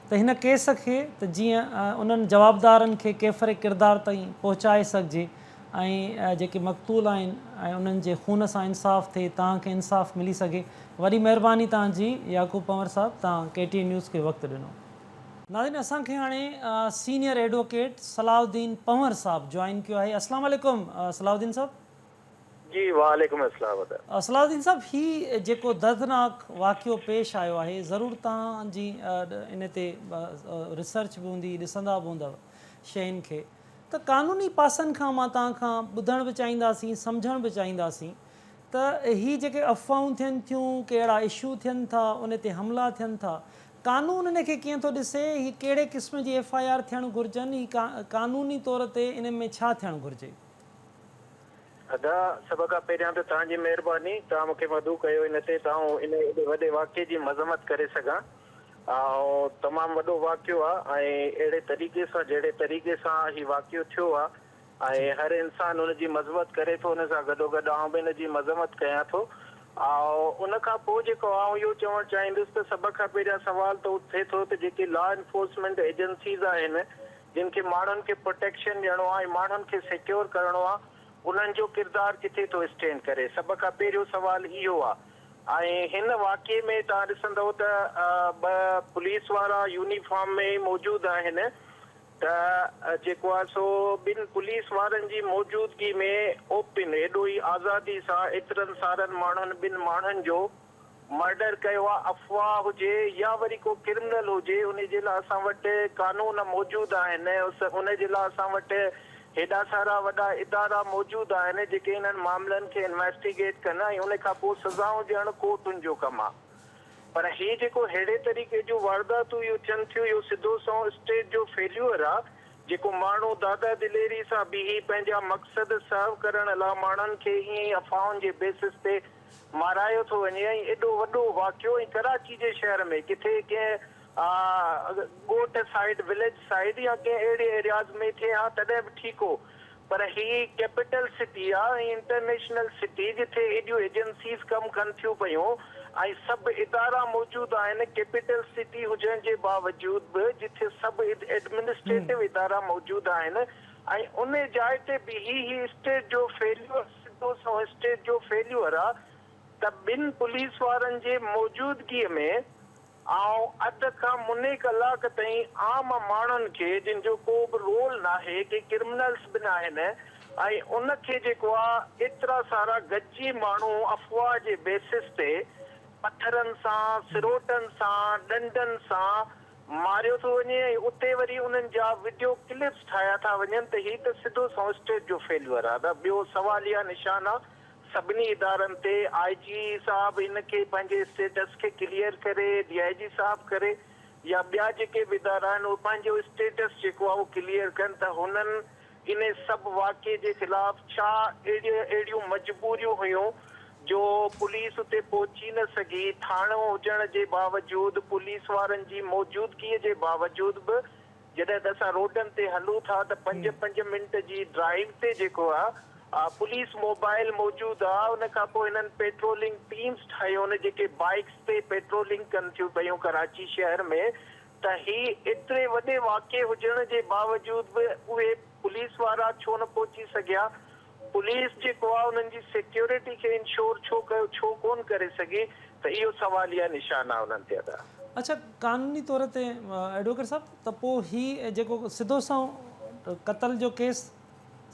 ته هن ڪيس کي ته جيئن انهن جوابدارن کي ڪيفر ڪردار تائين پهچائي سگهجي ۽ جيڪي مقتول آهن ۽ انهن جي خون سان انصاف ٿئي توهان کي انصاف ملي سگهي وڏي مهرباني توهان جي يعقوب پنور صاحب توهان ڪي ٽي اين نيوز کي وقت ڏنو. ناظرين اسان کي هاڻي سينئر ايڊووڪيٽ صلاح الدين پنور صاحب جوائن ڪيو آهي السلام عليڪم صلاح الدين صاحب. جي وعليڪم اسلام ادا. صلاح الدين صاحب هي جيڪو دردناڪ واقعو پيش آيو آهي ضرور توهان جي ان تي ريسرچ به هوندي ڏسندا به هوندؤ شين کي ته قانوني پاسن کان مان توهان کان ٻڌڻ به چاهينداسين سمجهڻ به چاهينداسين ته هي جيڪي افواهون ٿين ٿيون ڪي اهڙا اشو ٿين ٿا ان تي حملا ٿين ٿا قانون ان کي ڪيئن ٿو ڏسي هي ڪهڙي قسم جي ايف آء آر ٿيڻ گهرجن هي قانوني طور تي ان ۾ ڇا ٿيڻ گهرجي. ادا سڀ کان پهريان ته توهان جي مهرباني توهان مونکي مدعو ڪيو ان تي ته آئون ان ايڏي وڏي واقعي جي مذمت ڪري سگهان اهو تمام وڏو واقعو آ ۽ اهڙي طريقي سان جهڙي طريقي سان هي واقعو ٿيو آ ۽ هر انسان ان جي مذمت ڪري ٿو ان سان گڏوگڏ آئون به ان جي مذمت ڪيان ٿو اهو ان کان پوء جيڪو آئون اهو چوڻ چاهيندس ته سڀ کان پهريان سوال ته اٿي ٿو ته جيڪي لا انفورسمينٽ ايجنسيز آهن جن کي ماڻهن کي پروٽيڪشن ڏيڻو آهي ۽ ماڻهن کي سيڪيور ڪرڻو آهي انهن جو ڪردار ڪٿي ٿو اسٽينڊ ڪري سڀ کان پهريون سوال اهو آهي ۽ هن واقعي ۾ توهان ڏسندئو ته ٻه پوليس وارا يونيفارم ۾ موجود آهن ته جيڪو آهي سو ٻن پوليس وارن جي موجودگي ۾ اوپن ايڏو ئي آزادي سان ايترن سارن ماڻهن ٻن ماڻهن جو مرڊر ڪيو آ افواھ هجي يا وري ڪو ڪرمنل هجي انهي جي لا اسان وٽ قانون موجود آهن انهي جي لا اسان وٽ هيڏا سارا وڏا ادارا موجود آهن جيڪي انهن معاملن کي انويسٽيگيٽ ڪن ۽ انهي کان پوء سزائون ڏيڻ ڪورٽن جو ڪم آ پر هي جيڪو ههڙي طريقي جون وارداتون اهو ٿين ٿيون اهو سڌو سنئون اسٽيٽ جو فيليور آ جيڪو ماڻهو دادا دليري سان بيهي پنهنجا مقصد سرو ڪرڻ لا ماڻهن کي ائين ئي افواهن جي بيسس تي مارايو ٿو وڃي ۽ ايڏو وڏو واقعو ۽ ڪراچي جي شهر ۾ ڪٿي ڪنهن ڳوٺ سائيڊ Village Side يا ڪنهن اهڙي Areas ۾ ٿئي ها تڏهن به ٺيڪ هو پر هي ڪيپيٽل سٽي آ ۽ انٽرنيشنل سٽي جٿي ايڏيون ايجنسيز ڪم ڪن ٿيون پيون ۽ سڀ ادارا موجود آهن ڪيپيٽل سٽي هجڻ جي باوجود به جٿي سڀ ايڊمنسٽريٽو ادارا موجود آهن ۽ ان جاء تي بيهي هي اسٽيٽ جو فيليور سڌو سنئون اسٽيج جو فيليور آ ته ٻن پوليس وارن جي موجودگيء ۾ آئون اڌ کان مني ڪلاڪ تائين عام ماڻهن کي جن جو ڪو به رول ناهي ڪي ڪرمنلز به ناهن ۽ ان کي جيڪو آ ايترا سارا گڏجي ماڻهو افواهه جي بيسس تي پٿرن سان سروٽن سان ڏنڊن سان ماريو ٿو وڃي ۽ اتي وري انهن جا وڊيو ڪلپس ٺاهيا ٿا وڃن ته هي ته سڌو سنئون اسٽيٽ جو فيليور آهي نه ٻيو سواليه نشان آهي سڀني ادارن تي آء جي صاحب ان کي پنهنجي اسٽيٽس کي ڪليئر ڪري ڊي آء جي صاحب ڪري يا ٻيا جيڪي به ادارا آهن اهي پنهنجو اسٽيٽس جيڪو آهي اهو ڪليئر ڪن ته هنن ان سڀ واقعي جي خلاف ڇا اهڙيون مجبوريون هيون جو پوليس اتي پهچي نه سگهي، ٿاڻو هجڻ جي باوجود، پوليس وارن جي موجودگيء جي باوجود به جڏهن ته اسان روڊن تي هلون ٿا ته پنج پنج منٽ جي ڊرائيو تي جيڪو آ پوليس موبائل موجود آ ان کان پوء هنن پيٽرولنگ ٽيمز ٺاهيون جيڪي بائيڪس تي پيٽرولنگ ڪن ٿيون پيون ڪراچي شهر ۾ ته هي ايتري وڏي واقعي هجڻ جي باوجود به اهي پوليس وارا ڇو نه پهچي سگهيا؟ پوليس جيڪو آهي انهن جي سيڪيورٽي کي انشور ڇو ڪيو ڇو ڪونه ڪري سگهي ته اهو سواليه نشان آهي انهن تي ادا. اڇا قانوني طور تي ايڊووڪيٽ صاحب ته پوء هي جيڪو سڌو سنئون قتل جو ڪيس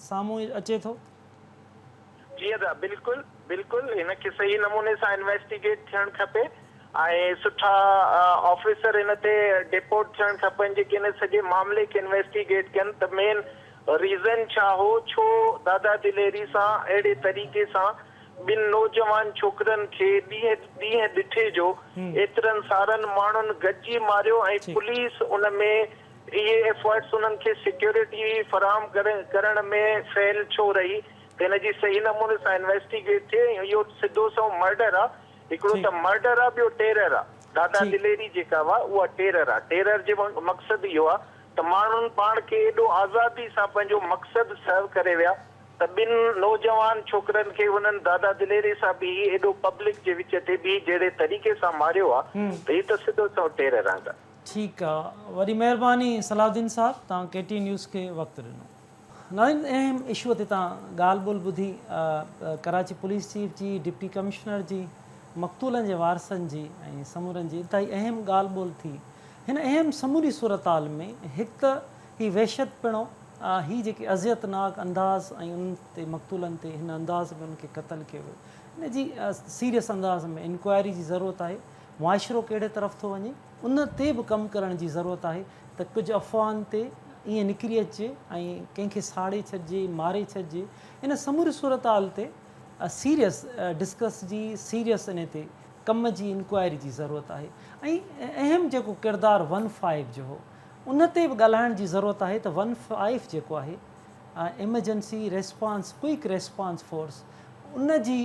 سامهون اچي ٿو. جي ادا بلڪل بلڪل هن کي صحيح نموني سان انويسٽيگيٽ ٿيڻ کپي ۽ سٺا آفيسر هن تي ڊيپوٽ ٿيڻ کپن جيڪي هن سڄي معاملي کي انويسٽيگيٽ ڪن ته مين ريزن ڇا هو ڇو دادا دليري سان اهڙي طريقي سان ٻن نوجوان ڇوڪرن کي ڏينهن ڏينهن ڏٺي جو ايترن سارن ماڻهن گڏجي ماريو ۽ پوليس ان ۾ اهي ايفرٽس انهن کي سيڪيورٽي فراهم ڪرڻ ۾ فيل ڇو رهي ته ان جي صحيح نموني سان انويسٽيگيٽ ٿئي ۽ اهو سڌو سنئون مرڊر آ هڪڙو ته مرڊر آ ٻيو ٽيرر آ دادا دليري جيڪا هئا اها ٽيرر آ ٽيرر جي مقصد اهو آ ته ماڻهن پاڻ کي ايڏو آزادي سان پنهنجو مقصد سرو ڪري ويا ته ٻن نوجوان ڇوڪرن کي انهن دادا دليري سان بيهي ايڏو پبلڪ جي وچ تي بيهي جهڙي طريقي سان ماريو آ ته هي ته سڌو سنئون ٽيرر آ. ٺيڪ آ وڏي مهرباني صلاح الدين صاحب توهان ڪي ٽي نيوز کي وقت ڏنو. ناظرين اهم اشوء تي توهان ڳالهه ٻولهه ٻڌي ڪراچي پوليس چيف جي ڊپٽي ڪمشنر جي مقتولن جي وارثن جي ۽ سمورن جي انتهائي اهم ڳالهه ٻولهه ٿي هن اهم سموري صورتحال ۾ هڪ ته هي وحشت پڻو هي جيڪي اذيت ناڪ انداز ۽ انهن تي مقتولن تي هن انداز ۾ انهن کي قتل ڪيو ويو ان جي سيريس انداز ۾ انڪوائري جي ضرورت آهي معاشرو ڪهڙي طرف ٿو وڃي ان تي به ڪم ڪرڻ جي ضرورت آهي ته ڪجهه افواهن تي ائين نڪري اچجي ۽ ڪنهن کي ساڙي ڇڏجي ماري ڇڏجي ان سموري صورتحال تي سيريس ڊسڪس جي سيريس انهي تي ڪم جي انڪوائري جي ضرورت آهي ۽ اهم جيڪو ڪردار ون فائيو جو هو ان تي به ڳالهائڻ جي ضرورت آهي ته ون فائيو جيڪو آهي emergency response quick response force ان جي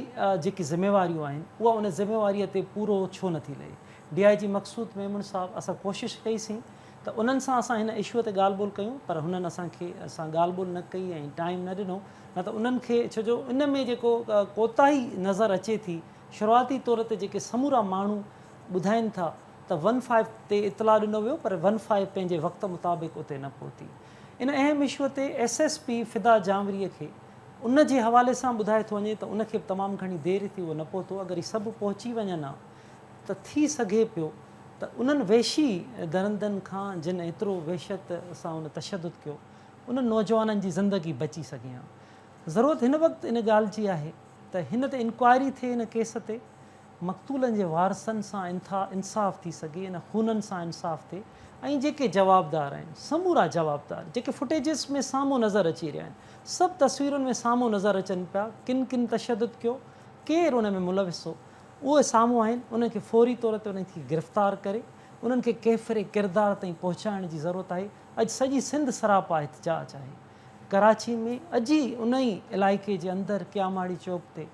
جيڪي ذميواريون آهن اها ان ذميواريء تي پورو ڇو نه ٿي لهي؟ D I G Maqsood Memon صاحب اسان ڪوشش ڪئي سين ته انهن سان اسان هن اشوء تي ڳالهه ٻولهه ڪيون پر هنن اسان کي سان ڳالهه ٻولهه نه ڪئي ۽ ٽائيم نه ڏنو نه ته انهن کي ڇو جو ان ۾ جيڪو ڪوتاهي نظر اچي ٿي شروعاتي طور تي جيڪي سمورا ماڻهو ٻڌائين ٿا ته ون فائيو تي اطلاع ڏنو ويو پر ون فائيو پنهنجي وقت مطابق اتي نه پهتي ان اهم اشوء تي ايس ايس پي فدا جانوريء کي ان جي حوالي سان ٻڌائي ٿو وڃي ته ان کي به تمام گهڻي دير ٿي اهو نه پهتو اگر هي سڀ پهچي وڃن ها ته ٿي سگهي پيو ته انهن وحشي درندن کان جن ايترو وحشت سان ان تشدد ڪيو انهن نوجوانن جي زندگي بچي سگهي ها ضرورت هن وقت ان ڳالهه جي آهي ته هن تي انڪوائري ٿئي ان ڪيس تي مقتولن جي وارثن سان انتها انصاف ٿي سگهي ان خونن سان انصاف ٿئي ۽ جيڪي جوابدار آهن سمورا جوابدار جيڪي فوٽيجز ۾ سامهون نظر اچي رهيا آهن سڀ تصويرن ۾ سامهون نظر اچن پيا ڪن ڪن تشدد ڪيو ڪير ان ۾ ملوث هو اهي سامهون آهن انهن کي فوري طور تي انهن کي گرفتار ڪري انهن کي ڪيفري ڪردار تائين پهچائڻ جي ضرورت آهي اڄ سڄي سنڌ سراپا احتجاج آهي ڪراچي ۾ اڄ ئي انهي علائقي جي اندر ڪياماڙي چوڪ تي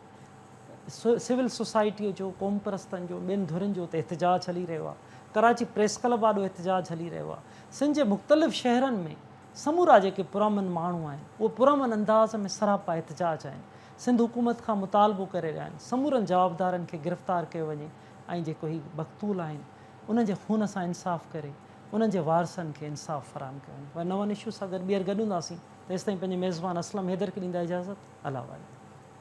سول سوسائٽيء جو، قومپرستن جو، ٻين ڌرين جو اتي احتجاج هلي رهيو آهي. ڪراچي پريس ڪلب آڏو احتجاج هلي رهيو آهي. سنڌ جي مختلف شهرن ۾ سمورا جيڪي پرامن ماڻهو آهن، اهي پرامن انداز ۾ سراپا احتجاج آهن. سنڌ حڪومت کان مطالبو ڪري رهيا آهن، سمورن جوابدارن کي گرفتار ڪيو وڃي ۽ جيڪو هي مقتول آهن، انهن جي خون سان انصاف ڪري انهن جي وارثن کي انصاف فراهم ڪيو وڃي. وري نون اشو سان گڏ ٻيهر گڏ هونداسين، تيستائين پنهنجي ميزبان اسلم حيدر کي ڏيندا اجازت. الله والي.